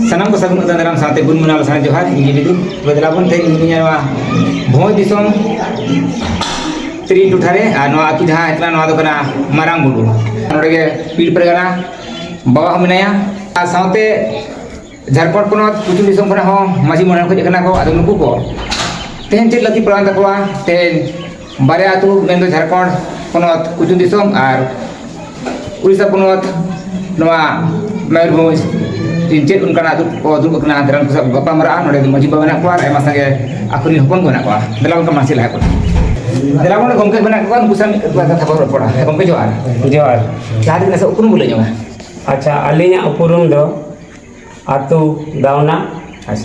ᱥᱟᱱᱟᱢ ᱠᱚ ᱥᱟᱹᱜᱩᱱ ᱚᱛᱟ ᱫᱟᱨᱟᱢ ᱥᱟᱶᱛᱮ ᱜᱩᱱ ᱢᱟᱱᱟᱣ ᱞᱟᱥᱟᱲ ᱡᱚᱦᱟᱨ ᱤᱧ ᱜᱮ ᱵᱤᱫᱩ ᱛᱚᱵᱮ ᱫᱮᱞᱟ ᱵᱚᱱ ᱛᱮᱦᱮᱧ ᱤᱧ ᱱᱚᱣᱟ ᱵᱷᱚᱸᱡᱽ ᱫᱤᱥᱚᱢ ᱛᱤᱨᱤ ᱴᱚᱴᱷᱟ ᱨᱮ ᱟᱨ ᱱᱚᱣᱟ ᱟᱹᱛᱩ ᱡᱟᱦᱟᱸ ᱦᱮᱡ ᱠᱟᱱᱟ ᱱᱚᱣᱟ ᱫᱚ ᱠᱟᱱᱟ ᱢᱟᱨᱟᱝ ᱵᱩᱨᱩ ᱱᱚᱰᱮ ᱜᱮ ᱯᱤᱲ ᱯᱟᱨᱜᱟᱱᱟ ᱵᱟᱵᱟ ᱦᱚᱸ ᱢᱮᱱᱟᱭᱟ ᱟᱨ ᱥᱟᱶᱛᱮ ᱡᱷᱟᱲᱠᱷᱚᱸᱰ ᱯᱚᱱᱚᱛ ᱯᱚᱪᱷᱤᱢ ᱫᱤᱥᱚᱢ ᱠᱷᱚᱱᱟᱜ ᱦᱚᱸ ᱢᱟᱹᱡᱷᱤ ᱢᱚᱬᱮ ᱦᱚᱲ ᱠᱚ ᱦᱮᱡ ᱠᱟᱱᱟ ᱠᱚ ᱟᱫᱚ ᱱᱩᱠᱩ ᱠᱚ ᱛᱮᱦᱮᱧ ᱪᱮᱫ ᱞᱟᱹᱠᱛᱤ ᱯᱟᱲᱟᱣᱮᱱ ᱛᱟᱠᱚᱣᱟ ᱛᱮᱦᱮᱧ ᱵᱟᱨᱭᱟ ᱟᱹᱛᱩ ᱢᱮᱱᱫᱚ ᱡᱷᱟᱲᱠᱷᱚᱸᱰ ᱯᱚᱱᱚᱛ ᱠᱩᱪᱩ ᱫᱤᱥᱚᱢ ᱟᱨ ᱩᱲᱤᱥᱥᱟ ᱯᱚᱱᱚᱛ ᱱᱚᱣᱟ ᱢᱚᱭᱩᱨᱵᱷᱚᱸᱡᱽ ᱪᱮᱫ ᱚᱱᱠᱟᱱᱟᱜ ᱟᱹᱛᱩ ᱠᱚ ᱫᱩᱲᱩᱵ ᱟᱠᱟᱱᱟ ᱫᱤᱱᱟᱹᱢ ᱠᱚ ᱥᱟᱶ ᱠᱚ ᱜᱟᱯᱟᱞᱢᱟᱨᱟᱜᱼᱟ ᱱᱚᱰᱮ ᱫᱚ ᱢᱟᱹᱡᱷᱤ ᱵᱟᱵᱟ ᱢᱮᱱᱟᱜ ᱠᱚᱣᱟ ᱟᱨ ᱟᱭᱢᱟ ᱥᱟᱸᱜᱮ ᱟᱠᱚ ᱨᱮᱱ ᱦᱚᱯᱚᱱ ᱠᱚ ᱢᱮᱱᱟᱜ ᱠᱚᱣᱟ ᱫᱮᱞᱟ ᱜᱚᱢᱠᱮ ᱢᱟᱹᱡᱷᱤ ᱞᱟᱦᱟ ᱠᱚᱨᱮ ᱫᱮᱞᱟ ᱵᱚᱱ ᱜᱚᱢᱠᱮ ᱢᱮᱱᱟᱜ ᱠᱚᱣᱟ ᱩᱱᱠᱩ ᱥᱟᱶ ᱢᱤᱫ ᱵᱟᱨ ᱠᱟᱛᱷᱟ ᱵᱚᱱ ᱨᱚᱯᱚᱲᱟ ᱦᱮᱸ ᱜᱚᱢᱠᱮ ᱡᱚᱦᱟᱨ ᱡᱚᱦᱟᱨ ᱡᱟᱦᱟᱸ ᱛᱤᱱᱟᱹᱜ ᱥᱮ ᱩᱯᱨᱩᱢ ᱵᱚᱱ ᱞᱟᱹᱭ ᱧᱚᱜᱼᱟ ᱟᱪᱪᱷᱟ ᱟᱹᱞᱤᱧᱟᱜ ᱩᱯᱨᱩᱢ ᱫᱚ ᱟᱛᱳ ᱫᱟᱣᱱᱟ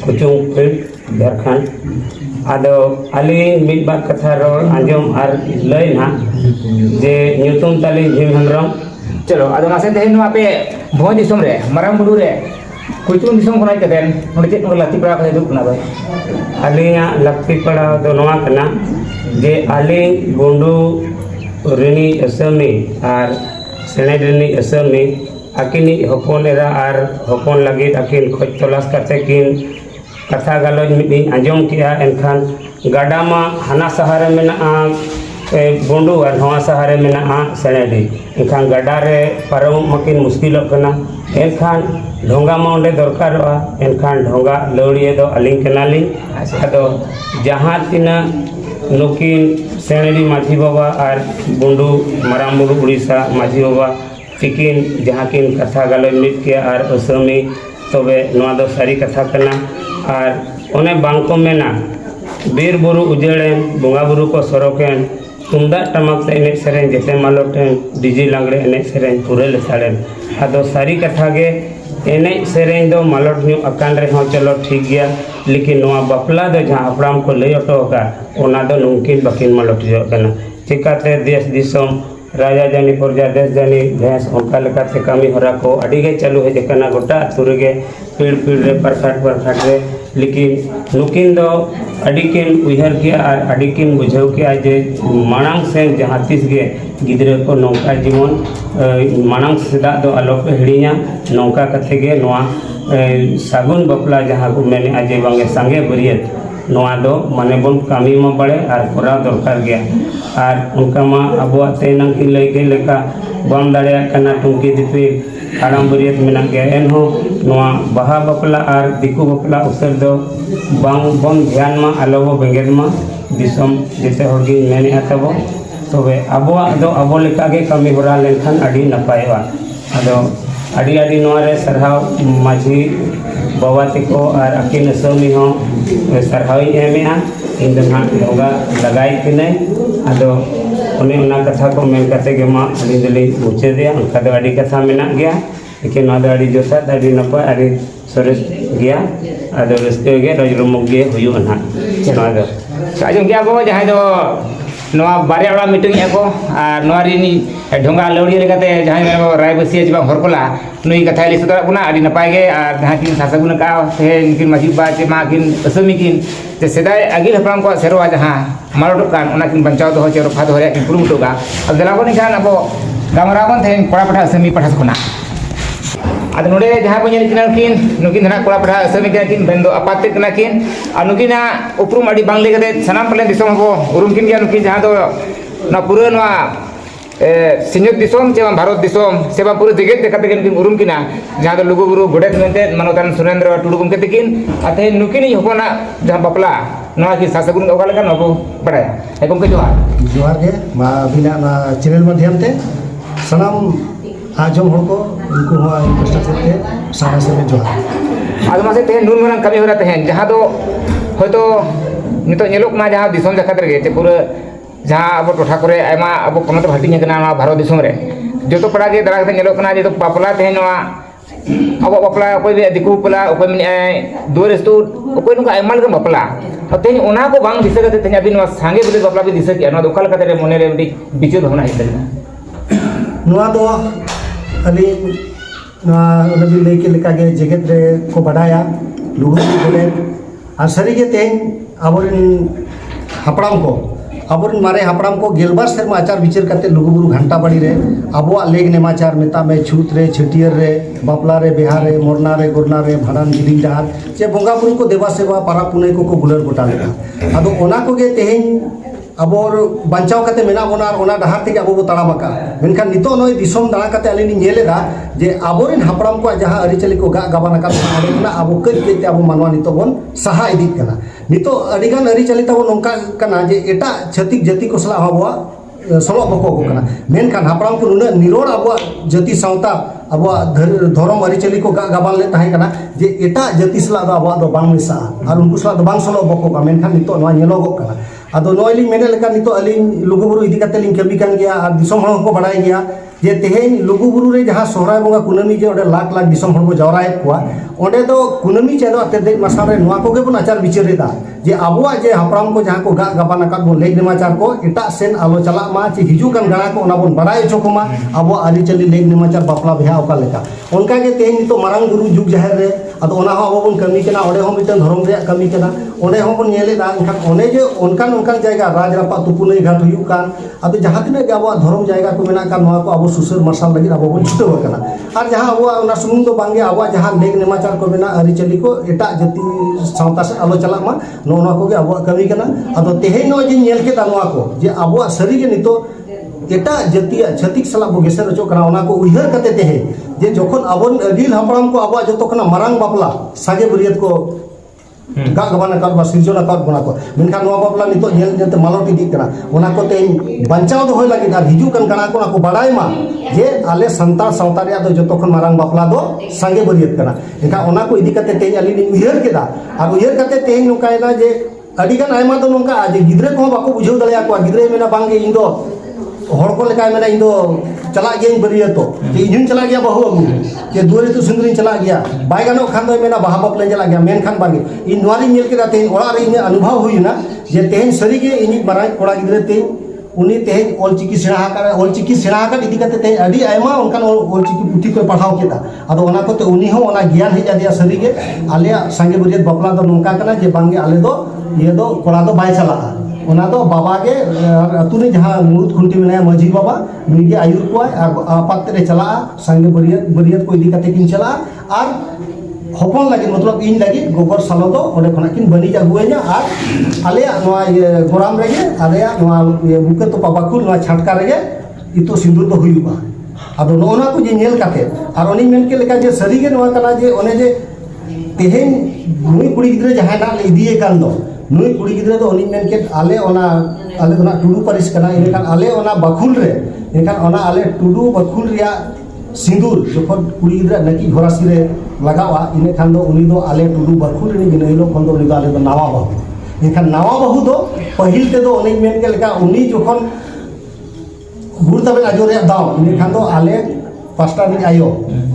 ᱠᱩᱪᱩᱝ ᱯᱷᱤᱞᱰ ᱡᱷᱟᱲᱠᱷᱚᱸᱰ ᱟᱫᱚ ᱟᱹᱞᱤᱧ ᱢᱤᱫ ᱵᱟᱨ ᱠᱟᱛᱷᱟ ᱨᱚᱲ ᱟᱸᱡᱚᱢ ᱟᱨ ᱞᱟᱹᱭ ᱱᱟᱜ ᱡᱮ ᱧᱩᱛᱩᱢ ᱛᱟᱹᱞᱤᱧ ᱵᱷᱤᱢ ᱦᱮᱢᱵᱨᱚᱢ ᱪᱚᱞᱚ ᱟᱫᱚ ᱢᱟᱥᱮ ᱛᱮᱦᱮᱧ ᱱᱚᱣᱟ ᱟᱯᱮ ᱵᱷᱚᱸᱡᱽ ᱫᱤᱥᱚᱢ ᱨᱮ ᱢᱟᱨᱟᱝ ᱵᱩᱨᱩ ᱨᱮ ᱠᱩᱪᱩᱝ ᱫᱤᱥᱚᱢ ᱠᱷᱚᱱ ᱦᱮᱡ ᱠᱟᱛᱮ ᱱᱚᱰᱮ ᱪᱮᱫ ᱠᱚᱯᱮ ᱞᱟᱹᱠᱛᱤ ᱯᱟᱲᱟᱣ ᱠᱟᱛᱮ ᱫᱩᱲᱩᱵ ᱠᱟᱱᱟ ᱯᱮ ᱟᱹᱞᱤᱧᱟᱜ ᱞᱟᱹᱠᱛᱤ ᱯᱟᱲᱟᱣ ᱫᱚ ᱱᱚᱣᱟ ᱠᱟᱱᱟ ᱡᱮ ᱟᱹᱞᱤᱧ ᱜᱩᱰᱩ ᱨᱤᱱᱤᱡ ᱟᱹᱥᱟᱹᱢᱤ ᱟᱨ ᱥᱮᱬᱮ ᱨᱤᱱᱤᱡ ᱟᱹᱥᱟᱹᱢᱤ ᱟᱹᱠᱤᱱᱤᱡ ᱦᱚᱯᱚᱱ ᱮᱨᱟ ᱟᱨ ᱦᱚᱯᱚᱱ ᱞᱟᱹᱜᱤᱫ ᱟᱹᱠᱤᱱ ᱠᱷᱚᱡᱽ ᱛᱚᱞᱟᱥ ᱠᱟᱛᱮᱫ ᱠᱤᱱ ᱠᱟᱛᱷᱟ ᱜᱟᱞᱚᱪ ᱢᱤᱫ ᱫᱤᱱ ᱟᱸᱡᱚᱢ ᱠᱮᱫᱼᱟ ᱮᱱᱠᱷᱟᱱ ᱜᱟᱰᱟ ᱢᱟ ᱦᱟᱱᱟ ᱥᱟᱦᱟ ᱨᱮ ᱢᱮᱱᱟᱜᱼᱟ ᱵᱩᱸᱰᱩ ᱟᱨ ᱱᱚᱣᱟ ᱥᱟᱦᱟ ᱨᱮ ᱢᱮᱱᱟᱜᱼᱟ ᱥᱮᱬᱮᱰᱤ ᱮᱱᱠᱷᱟᱱ ᱜᱟᱰᱟ ᱨᱮ ᱯᱟᱨᱚᱢᱚᱜ ᱢᱟᱠᱤᱱ ᱢᱩᱥᱠᱤᱞᱚᱜ ᱠᱟᱱᱟ ᱮᱱᱠᱷᱟᱱ ᱰᱷᱚᱸᱜᱟ ᱢᱟ ᱚᱸᱰᱮ ᱫᱚᱨᱠᱟᱨᱚᱜᱼᱟ ᱮᱱᱠᱷᱟᱱ ᱰᱷᱚᱸᱜᱟ ᱞᱟᱹᱣᱲᱤᱭᱟᱹ ᱫᱚ ᱟᱹᱞᱤᱧ ᱠᱟᱱᱟᱞᱤᱧ ᱟᱫᱚ ᱡᱟᱦᱟᱸ ᱛᱤᱱᱟᱹᱜ ᱱᱩᱠᱤᱱ ᱥᱮᱬᱮᱰᱤ ᱢᱟᱹᱡᱷᱤ ᱵᱟᱵᱟ ᱟᱨ ᱵᱩᱸᱰᱩ ᱢᱟᱨᱟᱝ ᱵᱩᱨᱩ ᱩᱲᱤᱥᱥᱟ ᱢᱟᱹᱡᱷᱤ ᱵᱟᱵᱟ ᱛᱤᱠᱤᱱ ᱡᱟᱦᱟᱸ ᱠᱤᱱ ᱠᱟᱛᱷᱟ ᱜᱟᱞᱚᱪ ᱞᱮᱫ ᱠᱮᱭᱟ ᱟᱨ ᱟᱹᱥᱟᱹᱢᱤ ᱛᱚᱵᱮ ᱱᱚᱣᱟ ᱫᱚ ᱥᱟᱹᱨᱤ ᱠᱟᱛᱷᱟ ᱠᱟᱱᱟ ᱟᱨ ᱚᱱᱮ ᱵᱟᱝ ᱠᱚ ᱢᱮᱱᱟ ᱵᱤᱨ ᱵᱩᱨᱩ ᱩᱡᱟᱹᱲᱮᱱ ᱵᱚᱸᱜᱟ ᱵᱩᱨᱩ ᱠᱚ ᱥᱚᱨᱚᱠᱮᱱ ᱛᱩᱢᱫᱟᱜ ᱴᱟᱢᱟᱠ ᱛᱮ ᱮᱱᱮᱡ ᱥᱮᱨᱮᱧ ᱡᱮᱛᱮ ᱢᱟᱞᱚᱴᱮᱱ ᱰᱤᱡᱮ ᱞᱟᱜᱽᱬᱮ ᱮᱱᱮᱡ ᱥᱮᱨᱮᱧ ᱯᱩᱨᱟᱹ ᱞᱮᱛᱟᱲᱮᱱ ᱟᱫᱚ ᱥᱟᱹᱨᱤ ᱠᱟᱛᱷᱟ ᱜᱮ ᱮᱱᱮᱡ ᱥᱮᱨᱮᱧ ᱫᱚ ᱢᱟᱞᱚᱴ ᱧᱚᱜ ᱟᱠᱟᱱ ᱨᱮᱦᱚᱸ ᱪᱚᱞᱚ ᱴᱷᱤᱠ ᱜᱮᱭᱟ ᱞᱮᱠᱤᱱ ᱱᱚᱣᱟ ᱵᱟᱯᱞᱟ ᱫᱚ ᱡᱟᱦᱟᱸ ᱦᱟᱯᱲᱟᱢ ᱠᱚ ᱞᱟᱹᱭ ᱦᱚᱴᱚ ᱟᱠᱟᱫ ᱚᱱᱟ ᱫᱚ ᱱᱩᱝᱠᱤᱱ ᱵᱟᱹᱠᱤᱱ ᱢᱟᱞᱚᱴ ᱦᱚᱪᱚᱣᱟᱜ ᱠᱟᱱᱟ ᱪᱤᱠᱟᱹᱛᱮ ᱫᱮᱥ ᱫᱤᱥᱚᱢ ᱨᱟᱡᱟ ᱡᱟᱹᱱᱤ ᱯᱨᱚᱡᱟ ᱫᱮᱥ ᱡᱟᱹᱱᱤ ᱵᱷᱮᱥ ᱚᱱᱠᱟ ᱞᱮᱠᱟᱛᱮ ᱠᱟᱹᱢᱤ ᱦᱚᱨᱟ ᱠᱚ ᱟᱹᱰᱤ ᱜᱮ ᱪᱟᱹᱞᱩ ᱦᱮᱡ ᱟᱠᱟᱱᱟ ᱜᱚᱴᱟ ᱟᱹᱛᱩ ᱨᱮᱜᱮ ᱯᱤᱲ ᱯᱤᱲ ᱨᱮ ᱯᱟᱨᱠᱷᱟᱴ ᱯᱟᱨᱠᱷᱟᱴ ᱨᱮ ᱞᱮᱠᱤᱱ ᱱᱩᱠᱤᱱ ᱫᱚ ᱟᱹᱰᱤ ᱠᱤᱱ ᱩᱭᱦᱟᱹᱨ ᱠᱮᱜᱼᱟ ᱟᱨ ᱟᱹᱰᱤ ᱠᱤᱱ ᱵᱩᱡᱷᱟᱹᱣ ᱠᱮᱜᱼᱟ ᱡᱮ ᱢᱟᱲᱟᱝ ᱥᱮᱫ ᱡᱟᱦᱟᱸ ᱛᱤᱥ ᱜᱮ ᱜᱤᱫᱽᱨᱟᱹ ᱠᱚ ᱱᱚᱝᱠᱟ ᱡᱮᱢᱚᱱ ᱢᱟᱲᱟᱝ ᱥᱮᱫᱟᱜ ᱫᱚ ᱟᱞᱚ ᱯᱮ ᱦᱤᱲᱤᱧᱟ ᱱᱚᱝᱠᱟ ᱠᱟᱛᱮᱫ ᱜᱮ ᱱᱚᱣᱟ ᱥᱟᱹᱜᱩᱱ ᱵᱟᱯᱞᱟ ᱡᱟᱦᱟᱸ ᱠᱚ ᱢᱮᱱᱮᱫᱼᱟ ᱡᱮ ᱵᱟᱝ ᱥᱟᱸᱜᱮ ᱵᱟᱹᱨᱭᱟᱹᱛ ᱱᱚᱣᱟ ᱫᱚ ᱢᱟᱱᱮ ᱵᱚᱱ ᱠᱟᱹᱢᱤ ᱢᱟ ᱵᱟᱲᱮ ᱟᱨ ᱠᱚᱨᱟᱣ ᱫᱚᱨᱠᱟᱨ ᱜᱮᱭᱟ ᱟᱨ ᱚᱱᱠᱟ ᱢᱟ ᱟᱵᱚᱣᱟᱜ ᱛᱮ ᱮᱱᱟᱝ ᱠᱤᱱ ᱞᱟᱹᱭ ᱠᱮᱫ ᱞᱮᱠᱟ ᱵᱟᱢ ᱫᱟᱲᱮᱭᱟᱜ ᱠᱟᱱᱟ ᱴᱩᱝᱠᱤ ᱫᱤᱯᱤᱞ ᱦᱟᱲᱟᱢ ᱵᱟᱹᱨᱭᱟᱹᱛ ᱢᱮᱱᱟᱜ ᱜᱮᱭᱟ ᱮᱱᱦᱚᱸ ᱱᱚᱣᱟ ᱵᱟᱦᱟ ᱵᱟᱯᱞᱟ ᱟᱨ ᱫᱤᱠᱩ ᱵᱟᱯᱞᱟ ᱩᱛᱟᱹᱨ ᱫᱚ ᱵᱟᱝ ᱵᱚᱱ ᱫᱷᱮᱭᱟᱱ ᱢᱟ ᱟᱞᱚ ᱵᱚᱱ ᱵᱮᱸᱜᱮᱫ ᱢᱟ ᱫᱤᱥᱚᱢ ᱡᱮᱛᱮ ᱦᱚᱲ ᱜᱤᱧ ᱢᱮᱱᱮᱫᱼᱟ ᱛᱟᱵᱚᱱ ᱛᱚᱵᱮ ᱟᱵᱚᱣᱟᱜ ᱫᱚ ᱟᱵᱚ ᱞᱮᱠᱟᱜᱮ ᱠᱟᱹᱢᱤ ᱦᱚᱨᱟ ᱞᱮᱱᱠᱷᱟᱱ ᱟᱹᱰᱤ ᱱᱟᱯᱟᱭᱚᱜᱼᱟ ᱟᱫᱚ ᱟᱹᱰᱤ ᱟᱹᱰᱤ ᱱᱚᱣᱟ ᱨᱮ ᱥᱟᱨᱦᱟᱣ ᱢᱟᱹᱡᱷᱤ ᱵᱟᱵᱟ ᱛᱮᱠᱚ ᱟᱨ ᱟᱹᱠᱤᱱ ᱟᱹᱥᱟᱹᱲᱤ ᱦᱚᱸ ᱥᱟᱨᱦᱟᱣ ᱤᱧ ᱮᱢᱮᱜᱼᱟ ᱤᱧ ᱫᱚ ᱦᱟᱸᱜ ᱵᱚᱸᱜᱟ ᱞᱟᱜᱟᱭᱮᱫ ᱠᱤᱱᱟᱹᱧ ᱟᱫᱚ ᱚᱱᱮ ᱚᱱᱟ ᱠᱟᱛᱷᱟ ᱠᱚ ᱢᱮᱱ ᱠᱟᱛᱮ ᱜᱮ ᱢᱟ ᱟᱹᱞᱤᱧ ᱫᱚᱞᱤᱧ ᱢᱩᱪᱟᱹᱫᱮᱜᱼᱟ ᱚᱱᱠᱟ ᱫᱚ ᱟᱹᱰᱤ ᱠᱟᱛᱷᱟ ᱢᱮᱱᱟᱜ ᱜᱮᱭᱟ ᱞᱮᱠᱤᱱ ᱱᱚᱣᱟ ᱫᱚ ᱟᱹᱰᱤ ᱡᱚᱛᱷᱟᱛ ᱟᱹᱰᱤ ᱱᱟᱯᱟᱭ ᱟᱹᱰᱤ ᱥᱚᱨᱮᱥ ᱜᱮᱭᱟ ᱟᱫᱚ ᱨᱟᱹᱥᱠᱟᱹ ᱜᱮ ᱨᱚᱡᱽ ᱨᱚᱢᱚᱠ ᱜᱮ ᱦᱩᱭᱩᱜᱼᱟ ᱱᱟᱦᱟᱜ ᱱᱚᱣᱟ ᱫᱚ ᱟᱸᱡᱚᱢ ᱠᱮᱜᱼᱟ ᱵᱚᱱ ᱡᱟᱦᱟᱸᱭ ᱫᱚ ᱱᱚᱣᱟ ᱵᱟᱨᱭᱟ ᱚᱲᱟᱜ ᱢᱤᱫᱴᱟᱹᱝ ᱮᱜᱼᱟ ᱠᱚ ᱟᱨ ᱱᱚᱣᱟ ᱨᱤᱱ ᱰᱷᱚᱸᱜᱟ ᱞᱟᱹᱣᱲᱤᱭᱟᱹ ᱞᱮᱠᱟᱛᱮ ᱡᱟᱦᱟᱸᱭ ᱫᱚ ᱨᱟᱭᱵᱟᱹᱥᱤᱭᱟᱹ ᱪᱮ ᱵᱟᱝ ᱦᱚᱲᱠᱚᱞᱟ ᱱᱩᱭ ᱠᱟᱛᱷᱟᱭ ᱞᱟᱹᱭ ᱥᱚᱫᱚᱨᱟᱜ ᱵᱚᱱᱟ ᱟᱹᱰᱤ ᱱᱟᱯᱟᱭ ᱜᱮ ᱟᱨ ᱡᱟᱦᱟᱸᱭ ᱠᱤᱱ ᱥᱟᱨ ᱥᱟᱹᱜᱩᱱ ᱟᱠᱟᱫᱼᱟ ᱛᱮᱦᱮᱧ ᱩᱱᱠᱤᱱ ᱢᱟᱺᱡᱷᱤ ᱵᱟᱵᱟ ᱪᱮ ᱢᱟ ᱠᱤᱱ ᱟᱹᱥᱟᱹᱢᱤ ᱠᱤᱱ ᱡᱮ ᱥᱮᱫᱟᱭ ᱟᱹᱜᱤᱞ ᱦᱟᱯᱲᱟᱢ ᱠᱚᱣᱟᱜ ᱥᱮᱨᱣᱟ ᱡᱟᱦᱟᱸ ᱢᱟᱞᱚᱴᱚᱜ ᱠᱟᱱ ᱚᱱᱟ ᱠᱤᱱ ᱵᱟᱧᱪᱟᱣ ᱫᱚᱦᱚ ᱪᱮ ᱨᱚᱯᱷᱟ ᱫᱚᱦᱚ ᱨᱮᱭᱟᱜ ᱠᱤᱱ ᱠᱩᱨᱩᱢᱩᱴᱩ ᱠᱟᱜᱼᱟ ᱟᱫᱚ ᱫᱮᱞᱟ ᱵᱚᱱ ᱮᱱᱠᱷᱟᱱ ᱟᱵᱚ ᱜᱟᱞᱢᱟᱨᱟᱣ ᱵᱚᱱ ᱛᱮᱦᱮᱧ ᱠᱚᱲᱟ ᱯᱟᱴᱷᱟ ᱟᱹᱥᱟᱹᱢᱤ ᱯᱟᱴᱷᱟ ᱠᱷᱚᱱᱟᱜ ᱟᱫᱚ ᱱᱚᱰᱮ ᱡᱟᱦᱟᱸ ᱵᱚᱱ ᱧᱮᱞᱮᱫ ᱠᱤᱱᱟ ᱱᱩᱠᱤᱱ ᱱᱩᱠᱤᱱ ᱫᱚ ᱱᱟᱜ ᱠᱚᱲᱟ ᱯᱟᱴᱷᱟ ᱟᱹᱥᱟᱹᱢᱤ ᱠᱟᱱᱟ ᱠᱤᱱ ᱢᱮᱱᱫᱚ ᱟᱯᱟᱛ ᱛᱮᱫ ᱠᱟᱱᱟ ᱠᱤᱱ ᱟᱨ ᱱᱩᱠᱤᱱᱟᱜ ᱩᱯᱨᱩᱢ ᱟᱹᱰᱤ ᱵᱟᱝ ᱞᱟᱹᱭ ᱠᱟᱛᱮᱫ ᱥᱟᱱᱟᱢ ᱯᱟᱞᱮᱱ ᱫᱤᱥᱚᱢ ᱦᱚᱸᱵᱚᱱ ᱩᱨᱩᱢ ᱠᱤᱱ ᱜᱮᱭᱟ ᱱᱩᱠᱤᱱ ᱡᱟᱦᱟᱸ ᱫᱚ ᱱᱚᱣᱟ ᱯᱩᱨᱟᱹ ᱱᱚᱣᱟ ᱥᱤᱧᱚᱛ ᱫᱤᱥᱚᱢ ᱪᱮ ᱵᱟᱝ ᱵᱷᱟᱨᱚᱛ ᱫᱤᱥᱚᱢ ᱥᱮ ᱵᱟᱝ ᱯᱩᱨᱟᱹ ᱡᱮᱜᱮᱛ ᱞᱮᱠᱟ ᱛᱮᱜᱮ ᱱᱩᱠᱤᱱ ᱩᱨᱩᱢ ᱠᱤᱱᱟ ᱡᱟᱦᱟᱸ ᱫᱚ ᱞᱩᱜᱩ ᱵᱩᱨᱩ ᱜᱚᱰᱮᱛ ᱢᱮᱱᱛᱮ ᱢᱟᱱᱚᱛᱟᱱ ᱥᱩᱨᱮᱱᱫᱨᱚ ᱴᱩᱰᱩ ᱜᱚᱢᱠᱮ ᱛᱟᱹᱠᱤᱱ ᱟᱨ ᱛᱮᱦᱮᱧ ᱱᱩᱠᱤᱱᱤᱡ ᱦᱚᱯᱚᱱᱟᱜ ᱡᱟᱦᱟᱸ ᱵᱟᱯᱞᱟ ᱱᱚᱣᱟ ᱠᱤᱱ ᱥᱟᱨ ᱥᱟᱹᱜᱩᱱ ᱚᱠᱟ ᱞᱮᱠᱟ ᱱᱚᱣᱟ ᱵᱚ ᱵᱟᱲᱟᱭᱟ ᱦᱮᱸ ᱜᱚᱢᱠᱮ ᱡᱚᱦᱟᱨ ᱡᱚᱦᱟᱨ ᱜᱮ ᱢᱟ ᱟᱹᱵᱤᱱᱟᱜ ᱚᱱᱟ ᱪᱮᱱᱮᱞ ᱢᱟᱫᱽᱫᱷᱚᱢ ᱛᱮ ᱥᱟᱱᱟᱢ ᱟᱸᱡᱚᱢ ᱦᱚᱲ ᱠᱚ ᱩᱱᱠᱩ ᱦᱚᱸ ᱤᱧ ᱯᱟᱥᱴᱟ ᱥᱮᱫ ᱛᱮ ᱥᱟᱱᱟ ᱥᱮᱫ ᱡᱚᱦᱟᱨ ᱟᱫᱚ ᱢᱟᱥᱮ ᱛᱮᱦᱮᱧ ᱱᱩᱱ ᱢᱟᱨᱟᱝ ᱠᱟᱹᱢᱤ ᱦᱚᱨᱟ ᱛᱮᱦᱮᱧ ᱡᱟᱦᱟᱸ ᱫᱚ ᱦᱚᱭᱛᱳ ᱱᱤᱛᱚᱜ ᱧᱮᱞᱚᱜ ᱠᱟᱱᱟ ᱡᱟᱦᱟᱸ ᱫᱤᱥᱚᱢ ᱡᱟᱠᱟᱛ ᱨᱮᱜᱮ ᱡᱮ ᱯᱩᱨᱟᱹ ᱡᱟᱦᱟᱸ ᱟᱵᱚ ᱴᱚᱴᱷᱟ ᱠᱚᱨᱮ ᱟᱭᱢᱟ ᱟᱵᱚ ᱯᱚᱱᱚᱛ ᱨᱮ ᱦᱟᱹᱴᱤᱧ ᱟᱠᱟᱱᱟ ᱱᱚᱣᱟ ᱵᱷᱟᱨᱚᱛ ᱫᱤᱥᱚᱢ ᱨᱮ ᱡᱚᱛᱚ ᱯᱟᱲᱟ ᱜᱮ ᱫᱟᱬᱟ ᱠᱟᱛᱮᱫ ᱧᱮᱞᱚᱜ ᱠᱟᱱᱟ ᱡᱮ ᱵᱟᱯᱞᱟ ᱛᱮᱦᱮᱧ ᱱᱚᱣᱟ ᱟᱵᱚᱣᱟᱜ ᱵᱟᱯᱞᱟ ᱚᱠᱚᱭ ᱞᱟᱹᱭᱮᱫᱼᱟᱭ ᱫᱤᱠᱩ ᱵᱟᱯᱞᱟ ᱚᱠᱚᱭ ᱢᱮᱱᱮᱫᱼᱟᱭ ᱫᱩᱣᱟᱹᱨ ᱤᱛᱩᱫ ᱚᱠᱚᱭ ᱱᱚᱝᱠᱟ ᱟᱭᱢᱟ ᱞᱮᱠᱟᱱ ᱵᱟᱯᱞᱟ ᱛᱳ ᱛᱮᱦᱮᱧ ᱚᱱᱟ ᱠᱚ ᱵᱟᱝ ᱫᱤᱥᱟᱹ ᱠᱟᱛᱮᱫ ᱛᱮᱦᱮᱧ ᱟᱹᱵᱤᱱ ᱱᱚᱣᱟ ᱥᱟᱸᱜᱮ ᱵᱟᱹᱨᱭᱟᱹᱛ ᱵᱟᱯᱞᱟ ᱵᱤᱱ ᱫᱤᱥᱟᱹ ᱠᱮᱫᱼᱟ ᱱᱚᱣᱟ ᱫᱚ ᱚᱠᱟ ᱞᱮᱠᱟᱛᱮ ᱟᱹᱵᱤᱱᱟᱜ ᱢᱚᱱᱮ ᱨᱮ ᱢᱤᱫᱴᱤᱡ ᱵᱤᱪᱟᱹᱨ ᱵᱷᱟᱵᱽᱱᱟ ᱦᱮᱡ ᱮᱱᱟ ᱱᱚᱣᱟ ᱫᱚ ᱟᱹᱞᱤᱧ ᱱᱚᱣᱟ ᱚᱱᱮ ᱵᱤᱱ ᱞᱟᱹᱭ ᱠᱮᱫ ᱞᱮᱠᱟᱜᱮ ᱡᱮᱜᱮᱛ ᱨᱮ ᱠᱚ ᱵᱟᱰᱟᱭᱟ ᱞᱩᱜᱩᱵᱩᱨᱩ ᱜᱚᱰᱮᱛ ᱟᱨ ᱥᱟᱹᱨᱤᱜᱮ ᱛᱮᱦᱮᱧ ᱟᱵᱚᱨᱮᱱ ᱦᱟᱯᱲᱟᱢ ᱠᱚ ᱟᱵᱚᱨᱮᱱ ᱢᱟᱨᱮ ᱦᱟᱯᱲᱟᱢ ᱠᱚ ᱜᱮᱞᱵᱟᱨ ᱥᱮᱨᱢᱟ ᱟᱪᱟᱨ ᱵᱤᱪᱟᱹᱨ ᱠᱟᱛᱮ ᱞᱩᱜᱩᱵᱩᱨᱩ ᱜᱷᱟᱱᱴᱟ ᱵᱟᱲᱮ ᱨᱮ ᱟᱵᱚᱣᱟᱜ ᱞᱮᱠ ᱱᱮᱢᱟᱪᱟᱨ ᱢᱮᱛᱟᱜ ᱢᱮ ᱪᱷᱩᱛ ᱨᱮ ᱪᱷᱟᱹᱴᱭᱟᱹᱨ ᱨᱮ ᱵᱟᱯᱞᱟ ᱨᱮ ᱵᱤᱦᱟᱹ ᱨᱮ ᱢᱚᱨᱱᱟ ᱨᱮ ᱜᱚᱨᱱᱟ ᱨᱮ ᱵᱷᱟᱸᱰᱟᱱ ᱡᱤᱞᱤᱧ ᱰᱟᱦᱟᱨ ᱪᱮ ᱵᱚᱸᱜᱟ ᱵᱩᱨᱩ ᱠᱚ ᱫᱮᱵᱟ ᱥᱮᱵᱟ ᱯᱟᱨᱟᱵᱽ ᱯᱩᱱᱟᱹᱭ ᱠᱚᱠᱚ ᱜᱩᱞᱟᱹᱲ ᱜᱚᱴᱟ ᱞᱮᱫᱟ ᱟᱫᱚ ᱚᱱᱟ ᱠᱚᱜᱮ ᱛᱮᱦᱮᱧ ᱟᱵᱚ ᱵᱟᱧᱪᱟᱣ ᱠᱟᱛᱮ ᱢᱮᱱᱟᱜ ᱵᱚᱱᱟ ᱟᱨ ᱚᱱᱟ ᱰᱟᱦᱟᱨ ᱛᱮᱜᱮ ᱟᱵᱚ ᱵᱚ ᱛᱟᱲᱟᱢ ᱟᱠᱟᱫ ᱢᱮᱱᱠᱷᱟᱱ ᱱᱤᱛᱚᱜ ᱱᱚᱜᱼᱚᱭ ᱫᱤᱥᱚᱢ ᱫᱟᱬᱟ ᱠᱟᱛᱮ ᱟᱹᱞᱤᱧ ᱞᱤᱧ ᱧᱮᱞᱮᱫᱟ ᱡᱮ ᱟᱵᱚᱨᱮᱱ ᱦᱟᱯᱲᱟᱢ ᱠᱚᱣᱟᱜ ᱡᱟᱦᱟᱸ ᱟᱹᱨᱤᱪᱟᱹᱞᱤ ᱠᱚ ᱜᱟᱜ ᱜᱟᱵᱟᱱ ᱟᱠᱟᱫ ᱵᱚᱱᱟ ᱚᱸᱰᱮ ᱠᱷᱚᱱᱟᱜ ᱟᱵᱚ ᱠᱟᱹᱡ ᱠᱟᱹᱡ ᱛᱮ ᱟᱵᱚ ᱢᱟᱱᱣᱟ ᱱᱤᱛᱚᱜ ᱵᱚᱱ ᱥᱟᱦᱟ ᱤᱫᱤᱜ ᱠᱟᱱᱟ ᱱᱤᱛᱚᱜ ᱟᱹᱰᱤ ᱜᱟᱱ ᱟᱹᱨᱤᱪᱟᱹᱞᱤ ᱛᱟᱵᱚ ᱱᱚᱝᱠᱟ ᱠᱟᱱᱟ ᱡᱮ ᱮᱴᱟᱜ ᱪᱷᱟᱹᱛᱤᱠ ᱡᱟᱹᱛᱤ ᱠᱚ ᱥᱟᱞᱟᱜ ᱦᱚᱸ ᱟᱵᱚᱣᱟᱜ ᱥᱚᱞᱚᱜ ᱵᱚᱠᱚᱜ ᱠᱟᱱᱟ ᱢᱮᱱᱠᱷᱟᱱ ᱦᱟᱯᱲᱟᱢ ᱠᱚ ᱱᱩᱱᱟᱹᱜ ᱱᱤᱨᱚᱲ ᱟᱵᱚᱣᱟᱜ ᱡᱟᱹᱛᱤ ᱥᱟᱶᱛᱟ ᱟᱵᱚᱣᱟᱜ ᱫᱷᱚᱨᱚᱢ ᱟᱹᱨᱤᱪᱟᱹᱞᱤ ᱠᱚ ᱜᱟᱜ ᱜᱟᱵᱟᱱ ᱞᱮᱫ ᱛᱟᱦᱮᱸ ᱠᱟᱱᱟ ᱡᱮ ᱮᱴᱟᱜ ᱡᱟᱹᱛᱤ ᱥᱟᱞᱟᱜ ᱫᱚ ᱟᱵᱚᱣᱟᱜ ᱫᱚ ᱵᱟᱝ ᱢᱮᱥᱟᱜᱼᱟ ᱟᱨ ᱩᱱᱠᱩ ᱥᱟᱞᱟᱜ ᱫᱚ ᱵᱟᱝ ᱥᱚᱞᱚᱜ ᱵᱚᱠᱚᱜᱼᱟ ᱢᱮᱱᱠᱷᱟᱱ ᱱᱤᱛᱚᱜ ᱱᱚᱣᱟ ᱧᱮᱞᱚᱜᱚᱜ ᱠᱟᱱᱟ ᱟᱫᱚ ᱱᱚᱜᱼᱚᱭ ᱞᱤᱧ ᱢᱮᱱᱮᱫ ᱞᱮᱠᱟ ᱱᱤᱛᱚᱜ ᱟᱹᱞᱤᱧ ᱞᱩᱜᱩᱵᱩᱨᱩ ᱤᱫᱤ ᱠᱟᱛᱮ ᱞᱤᱧ ᱠᱟᱹᱢᱤ ᱠᱟᱱ ᱜᱮᱭᱟ ᱟᱨ ᱫᱤᱥᱚᱢ ᱦᱚᱲ ᱦᱚᱸᱠᱚ ᱵᱟᱲᱟᱭ ᱜᱮᱭᱟ ᱡᱮ ᱛᱮᱦᱮᱧ ᱞᱩᱜᱩᱵᱩᱨᱩ ᱨᱮ ᱡᱟᱦᱟᱸ ᱥᱚᱦᱨᱟᱭ ᱵᱚᱸᱜᱟ ᱠᱩᱱᱟᱹᱢᱤ ᱡᱮ ᱚᱸᱰᱮ ᱞᱟᱠᱷ ᱞᱟᱠᱷ ᱫᱤᱥᱚᱢ ᱦᱚᱲ ᱵᱚ ᱡᱟᱣᱨᱟᱭᱮᱫ ᱠᱚᱣᱟ ᱚᱸᱰᱮ ᱫᱚ ᱠᱩᱱᱟᱹᱢᱤ ᱪᱟᱸᱫᱚ ᱟᱛᱮᱫ ᱫᱮᱡ ᱢᱟᱨᱥᱟᱞ ᱨᱮ ᱱᱚᱣᱟ ᱠᱚᱜᱮ ᱵᱚᱱ ᱟᱪᱟᱨ ᱵᱤᱪᱟᱹᱨᱮᱫᱟ ᱡᱮ ᱟᱵᱚᱣᱟᱜ ᱡᱮ ᱦᱟᱯᱲᱟᱢ ᱠᱚ ᱡᱟᱦᱟᱸ ᱠᱚ ᱜᱟᱜ ᱜᱟᱵᱟᱱ ᱟᱠᱟᱫ ᱵᱚᱱ ᱞᱮᱠ ᱱᱮᱢᱟᱪᱟᱨ ᱠᱚ ᱮᱴᱟᱜ ᱥᱮᱫ ᱟᱞᱚ ᱪᱟᱞᱟᱜ ᱢᱟ ᱪᱮ ᱦᱤᱡᱩᱜ ᱠᱟᱱ ᱜᱟᱬᱟ ᱠᱚ ᱚᱱᱟ ᱵᱚᱱ ᱵᱟᱲᱟᱭ ᱦᱚᱪᱚ ᱠᱚᱢᱟ ᱟᱵᱚᱣᱟᱜ ᱟᱹᱨᱤᱪᱟᱹᱞᱤ ᱞᱮᱠ ᱱᱮᱢᱟᱪᱟᱨ ᱵᱟᱯᱞᱟ ᱵᱤᱦᱟᱹ ᱚᱠᱟ ᱞᱮᱠᱟ ᱚᱱᱠᱟ ᱜᱮ ᱛᱮᱦᱮᱧ ᱱᱤᱛᱚᱜ ᱢᱟᱨᱟᱝ ᱵᱩᱨᱩ ᱡᱩᱜᱽ ᱡᱟᱦᱮᱨ ᱨᱮ ᱟᱫᱚ ᱚᱱᱟ ᱦᱚᱸ ᱟᱵᱚ ᱵᱚᱱ ᱠᱟᱹᱢᱤ ᱠᱟᱱᱟ ᱚᱸᱰᱮ ᱦᱚᱸ ᱢᱤᱫᱴᱟᱝ ᱫᱷᱚᱨᱚᱢ ᱨᱮᱭᱟᱜ ᱠᱟᱹᱢᱤ ᱠᱟᱱᱟ ᱚᱸᱰᱮ ᱦᱚᱸ ᱵᱚᱱ ᱧᱮᱞᱮᱫᱟ ᱮᱱᱠᱷᱟᱱ ᱚᱱᱮ ᱡᱮ ᱚᱱᱠᱟᱱ ᱚᱱᱠᱟᱱ ᱡᱟᱭᱜᱟ ᱨᱟᱡᱽ ᱨᱟᱯᱟᱜ ᱛᱩᱯᱩᱱᱟᱹᱭ ᱜᱷᱟᱴ ᱦᱩᱭᱩᱜ ᱠᱟᱱ ᱟᱫᱚ ᱡᱟᱦᱟᱸ ᱛᱤᱱᱟᱹᱜ ᱜᱮ ᱟᱵᱚᱣᱟᱜ ᱫᱷᱚᱨᱚᱢ ᱡᱟᱭᱜᱟ ᱠᱚ ᱢᱮᱱᱟᱜ ᱠᱟᱱ ᱱᱚᱣᱟ ᱠᱚ ᱟᱵᱚ ᱥᱩᱥᱟᱹᱨ ᱢᱟᱨᱥᱟᱞ ᱞᱟᱹᱜᱤᱫ ᱟᱵᱚ ᱵᱚᱱ ᱪᱷᱩᱴᱟᱹᱣ ᱟᱠᱟᱱᱟ ᱟᱨ ᱡᱟᱦᱟᱸ ᱟᱵᱚᱣᱟᱜ ᱚᱱᱟ ᱥᱩᱢᱩᱝ ᱫᱚ ᱵᱟᱝᱜᱮ ᱟᱵᱚᱣᱟᱜ ᱡᱟᱦᱟᱸ ᱞᱮᱠ ᱱᱮᱢᱟᱪᱟᱨ ᱠᱚ ᱢᱮᱱᱟᱜᱼᱟ ᱟᱹᱨᱤᱪᱟᱹᱞᱤ ᱠᱚ ᱮᱴᱟᱜ ᱡᱟᱹᱛᱤ ᱥᱟᱶᱛᱟ ᱥᱮᱫ ᱟᱞᱚ ᱪᱟᱞᱟᱜ ᱢᱟ ᱱᱚᱜᱼᱚ ᱱᱚᱣᱟ ᱠᱚᱜᱮ ᱟᱵᱚᱣᱟᱜ ᱠᱟᱹᱢᱤ ᱠᱟᱱᱟ ᱟᱫᱚ ᱛᱮᱦᱮᱧ ᱱᱚᱜᱼᱚᱭ ᱡᱮᱧ ᱧᱮᱞ ᱠᱮᱫᱟ ᱱᱚᱣᱟ ᱠᱚ ᱡᱮ ᱟᱵᱚᱣᱟᱜ ᱥᱟᱹᱨᱤᱜᱮ ᱱᱤᱛᱚᱜ ᱮᱴᱟᱜ ᱡᱟᱹᱛᱤᱭᱟᱜ ᱪᱷᱟᱹᱛᱤᱠ ᱥᱟᱞᱟᱜ ᱵᱚ ᱜᱮᱥᱮᱨ ᱦᱚᱪᱚᱜ ᱠᱟᱱᱟ ᱚᱱᱟ ᱠᱚ ᱩᱭᱦᱟᱹᱨ ᱠᱟᱛᱮ ᱛᱮ ᱡᱮ ᱡᱚᱠᱷᱚᱱ ᱟᱵᱚ ᱨᱮᱱ ᱟᱹᱜᱤᱞ ᱦᱟᱯᱲᱟᱢ ᱠᱚ ᱟᱵᱚᱣᱟᱜ ᱡᱚᱛᱚ ᱠᱷᱚᱱᱟᱜ ᱢᱟᱨᱟᱝ ᱵᱟᱯᱞᱟ ᱥᱟᱸᱜᱮ ᱵᱟᱹᱨᱭᱟᱹᱛ ᱠᱚ ᱜᱟᱜ ᱜᱟᱵᱟᱱ ᱟᱠᱟᱫ ᱵᱚᱱᱟ ᱥᱤᱨᱡᱚᱱ ᱟᱠᱟᱫ ᱵᱚᱱᱟ ᱠᱚ ᱢᱮᱱᱠᱷᱟᱱ ᱱᱚᱣᱟ ᱵᱟᱯᱞᱟ ᱱᱤᱛᱚᱜ ᱧᱮᱞ ᱧᱮᱞᱛᱮ ᱢᱟᱞᱚᱴ ᱤᱫᱤᱜ ᱠᱟᱱᱟ ᱚᱱᱟ ᱠᱚ ᱛᱮᱦᱮᱧ ᱵᱟᱧᱪᱟᱣ ᱫᱚᱦᱚᱭ ᱞᱟᱹᱜᱤᱫ ᱟᱨ ᱦᱤᱡᱩᱜ ᱠᱟᱱ ᱠᱟᱬᱟ ᱠᱚ ᱚᱱᱟ ᱠᱚ ᱵᱟᱲᱟᱭ ᱢᱟ ᱡᱮ ᱟᱞᱮ ᱥᱟᱱᱛᱟᱲ ᱥᱟᱶᱛᱟ ᱨᱮᱭᱟᱜ ᱫᱚ ᱡᱚᱛᱚ ᱠᱷᱚᱱ ᱢᱟᱨᱟᱝ ᱵᱟᱯᱞᱟ ᱫᱚ ᱥᱟᱸᱜᱮ ᱵᱟᱹᱨᱭᱟᱹᱛ ᱠᱟᱱᱟ ᱮᱱᱠᱷᱟᱱ ᱚᱱᱟ ᱠᱚ ᱤᱫᱤ ᱠᱟᱛᱮ ᱛᱮᱦᱮᱧ ᱟᱹᱞᱤᱧ ᱞᱤᱧ ᱩᱭᱦᱟᱹᱨ ᱠᱮᱫᱟ ᱟᱨ ᱩᱭᱦᱟᱹᱨ ᱠᱟᱛᱮ ᱛᱮᱦᱮᱧ ᱱᱚᱝᱠᱟᱭᱮᱱᱟ ᱡᱮ ᱟᱹᱰᱤ ᱜᱟᱱ ᱟᱭᱢᱟ ᱫᱚ ᱱᱚᱝᱠᱟ ᱡᱮ ᱜᱤᱫᱽᱨᱟᱹ ᱠᱚᱦᱚᱸ ᱵᱟᱠᱚ ᱵᱩᱡᱷᱟᱹᱣ ᱫᱟᱲᱮᱭᱟ ᱠᱚᱣᱟ ᱜᱤᱫᱽᱨᱟᱹᱭ ᱢᱮᱱᱟ ᱵᱟᱝ ᱜᱮ ᱤᱧ ᱫᱚ ᱦᱚᱲ ᱠᱚ ᱞᱮᱠᱟᱭ ᱢᱮᱱᱟ ᱤᱧ ᱫᱚ ᱪᱟᱞᱟᱜ ᱜᱤᱭᱟᱹᱧ ᱵᱟᱹᱨᱭᱟᱹᱛᱚᱜ ᱡᱮ ᱤᱧ ᱦᱚᱸᱧ ᱪᱟᱞᱟᱜ ᱜᱮᱭᱟ ᱵᱟᱹᱦᱩ ᱟᱹᱜᱩ ᱡᱮ ᱫᱩᱣᱟᱹᱨ ᱤᱛᱩᱫ ᱥᱤᱸᱫᱩᱨᱤᱧ ᱪᱟᱞᱟᱜ ᱜᱮᱭᱟ ᱵᱟᱭ ᱜᱟᱱᱚᱜ ᱠᱷᱟᱱ ᱫᱚᱭ ᱢᱮᱱᱟ ᱵᱟᱦᱟ ᱵᱟᱯᱞᱟᱧ ᱪᱟᱞᱟᱜ ᱜᱮᱭᱟ ᱢᱮᱱᱠᱷᱟᱱ ᱵᱟᱝ ᱜᱮ ᱤᱧ ᱱᱚᱣᱟ ᱨᱤᱧ ᱧᱮᱞ ᱠᱮᱫᱟ ᱛᱮᱦᱮᱧ ᱚᱲᱟᱜ ᱨᱮ ᱤᱧᱟᱹᱜ ᱚᱱᱩᱵᱷᱚᱵᱽ ᱦᱩᱭᱮᱱᱟ ᱡᱮ ᱛᱮᱦᱮᱧ ᱥᱟᱹᱨᱤ ᱜᱮ ᱤᱧᱤᱡ ᱢᱟᱨᱟᱝ ᱤᱡ ᱠᱚᱲᱟ ᱜᱤᱫᱽᱨᱟᱹ ᱛᱤᱧ ᱩᱱᱤ ᱛᱮᱦᱮᱧ ᱚᱞᱪᱤᱠᱤ ᱥᱮᱬᱟ ᱟᱠᱟᱱᱟ ᱚᱞᱪᱤᱠᱤ ᱥᱮᱬᱟ ᱟᱠᱟᱱ ᱤᱫᱤ ᱠᱟᱛᱮ ᱛᱮᱦᱮᱧ ᱟᱹᱰᱤ ᱟᱭᱢᱟ ᱚᱱᱠᱟᱱ ᱚᱞᱪᱤᱠᱤ ᱯᱩᱛᱷᱤ ᱠᱚᱭ ᱯᱟᱲᱦᱟᱣ ᱠᱮᱫᱟ ᱟᱫᱚ ᱚᱱᱟ ᱠᱚᱛᱮ ᱩᱱᱤ ᱦᱚᱸ ᱚᱱᱟ ᱜᱮᱭᱟᱱ ᱦᱮᱡ ᱟᱫᱮᱭᱟ ᱥᱟᱹᱨᱤᱜᱮ ᱟᱞᱮᱭᱟᱜ ᱥᱟᱸᱜᱮ ᱵᱟᱹᱨᱭᱟᱹᱛ ᱵᱟᱯᱞᱟ ᱫᱚ ᱱᱚᱝᱠᱟ ᱠᱟᱱᱟ ᱡᱮ ᱵᱟᱝᱜᱮ ᱟᱞᱮ ᱫᱚ ᱤᱭᱟᱹ ᱫᱚ ᱠᱚᱲᱟ ᱫᱚ ᱵᱟᱭ ᱪᱟᱞᱟᱜᱼᱟ ᱚᱱᱟ ᱫᱚ ᱵᱟᱵᱟ ᱜᱮ ᱟᱨ ᱟᱹᱛᱩ ᱨᱮ ᱡᱟᱦᱟᱸ ᱢᱩᱬᱩᱛ ᱠᱷᱩᱱᱴᱤ ᱢᱮᱱᱟᱭᱟ ᱢᱟᱺᱡᱷᱤ ᱵᱟᱵᱟ ᱱᱩᱭ ᱜᱮ ᱟᱹᱭᱩᱨ ᱠᱚᱣᱟᱭ ᱟᱨ ᱟᱯᱟᱛ ᱛᱮᱫ ᱮ ᱪᱟᱞᱟᱜᱼᱟ ᱥᱟᱸᱜᱮ ᱵᱟᱹᱨᱭᱟᱹᱛ ᱵᱟᱹᱨᱭᱟᱹᱛ ᱠᱚ ᱤᱫᱤ ᱠᱟᱛᱮ ᱠᱤᱱ ᱪᱟᱞᱟᱜᱼᱟ ᱟᱨ ᱦᱚᱯᱚᱱ ᱞᱟᱹᱜᱤᱫ ᱢᱚᱛᱞᱚᱵ ᱤᱧ ᱞᱟᱹᱜᱤᱫ ᱜᱚᱜᱚᱨ ᱥᱟᱞᱚ ᱫᱚ ᱚᱸᱰᱮ ᱠᱷᱚᱱᱟᱜ ᱠᱤᱱ ᱵᱟᱹᱱᱤᱡ ᱟᱹᱜᱩᱣᱟᱹᱧᱟ ᱟᱨ ᱟᱞᱮᱭᱟᱜ ᱱᱚᱣᱟ ᱤᱭᱟᱹ ᱜᱚᱨᱟᱢ ᱨᱮᱜᱮ ᱟᱞᱮᱭᱟᱜ ᱱᱚᱣᱟ ᱤᱭᱟᱹ ᱵᱩᱠᱟᱹ ᱛᱚᱯᱟ ᱵᱟᱠᱷᱩᱞ ᱱᱚᱣᱟ ᱪᱷᱟᱴᱠᱟ ᱨᱮᱜᱮ ᱤᱛᱩᱫ ᱥᱤᱸᱫᱩᱨ ᱫᱚ ᱦᱩᱭᱩᱜᱼᱟ ᱟᱫᱚ ᱱᱚᱜᱼᱚ ᱱᱚᱣᱟ ᱠᱚ ᱡᱮ ᱧᱮᱞ ᱠᱟᱛᱮ ᱟᱨ ᱚᱱᱮᱧ ᱢᱮᱱ ᱠᱮᱫ ᱞᱮᱠᱟ ᱡᱮ ᱥᱟᱹᱨᱤᱜᱮ ᱱᱚᱣᱟ ᱠᱟᱱᱟ ᱡᱮ ᱚᱱᱮ ᱡᱮ ᱛᱮᱦᱮᱧ ᱱᱩᱭ ᱠᱩᱲᱤ ᱜᱤᱫᱽᱨᱟᱹ ᱡᱟᱦᱟᱸᱭ ᱱᱟᱜ ᱞᱮ ᱤᱫᱤᱭᱮ ᱠᱟᱱ ᱫᱚ ᱱᱩᱭ ᱠᱩᱲᱤ ᱜᱤᱫᱽᱨᱟᱹ ᱫᱚ ᱚᱱᱮᱧ ᱢᱮᱱ ᱠᱮᱫ ᱟᱞᱮ ᱚᱱᱟ ᱟᱞᱮ ᱫᱚ ᱱᱟᱜ ᱴᱩᱰᱩ ᱯᱟᱹᱨᱤᱥ ᱠᱟᱱᱟ ᱮᱸᱰᱮᱠᱷᱟᱱ ᱟᱞᱮ ᱚᱱᱟ ᱵᱟᱠᱷᱩᱞ ᱨᱮ ᱮᱸᱰᱮᱠᱷᱟᱱ ᱚᱱᱟ ᱟᱞᱮ ᱴᱩᱰᱩ ᱵᱟᱠᱷᱩᱞ ᱨᱮᱭᱟᱜ ᱥᱤᱸᱫᱩᱨ ᱡᱚᱠᱷᱚᱱ ᱠᱩᱲᱤ ᱜᱤᱫᱽᱨᱟᱹ ᱱᱟᱹᱠᱤᱡ ᱦᱚᱨᱟᱥᱤ ᱨᱮ ᱞᱟᱜᱟᱣᱟ ᱤᱱᱟᱹ ᱠᱷᱟᱱ ᱫᱚ ᱩᱱᱤ ᱫᱚ ᱟᱞᱮ ᱴᱩᱰᱩ ᱵᱟᱹᱨᱠᱷᱩ ᱨᱤᱱᱤᱡ ᱤᱱᱟᱹ ᱦᱤᱞᱳᱜ ᱠᱷᱚᱱ ᱫᱚ ᱩᱱᱤ ᱫᱚ ᱟᱞᱮ ᱫᱚ ᱱᱟᱣᱟ ᱵᱟᱹᱦᱩ ᱮᱱᱠᱷᱟᱱ ᱱᱟᱣᱟ ᱵᱟᱹᱦᱩ ᱫᱚ ᱯᱟᱹᱦᱤᱞ ᱛᱮᱫᱚ ᱚᱱᱮᱧ ᱢᱮᱱ ᱠᱮᱫ ᱞᱮᱠᱟ ᱩᱱᱤ ᱡᱚᱠᱷᱚᱱ ᱜᱩᱲ ᱛᱟᱵᱮᱱ ᱟᱡᱚ ᱨᱮᱭᱟᱜ ᱫᱟᱣ ᱤᱱᱟᱹ ᱠᱷᱟᱱ ᱫᱚ ᱟᱞᱮ ᱯᱟᱥᱴᱟ ᱨᱤᱱᱤᱡ ᱟᱭᱳ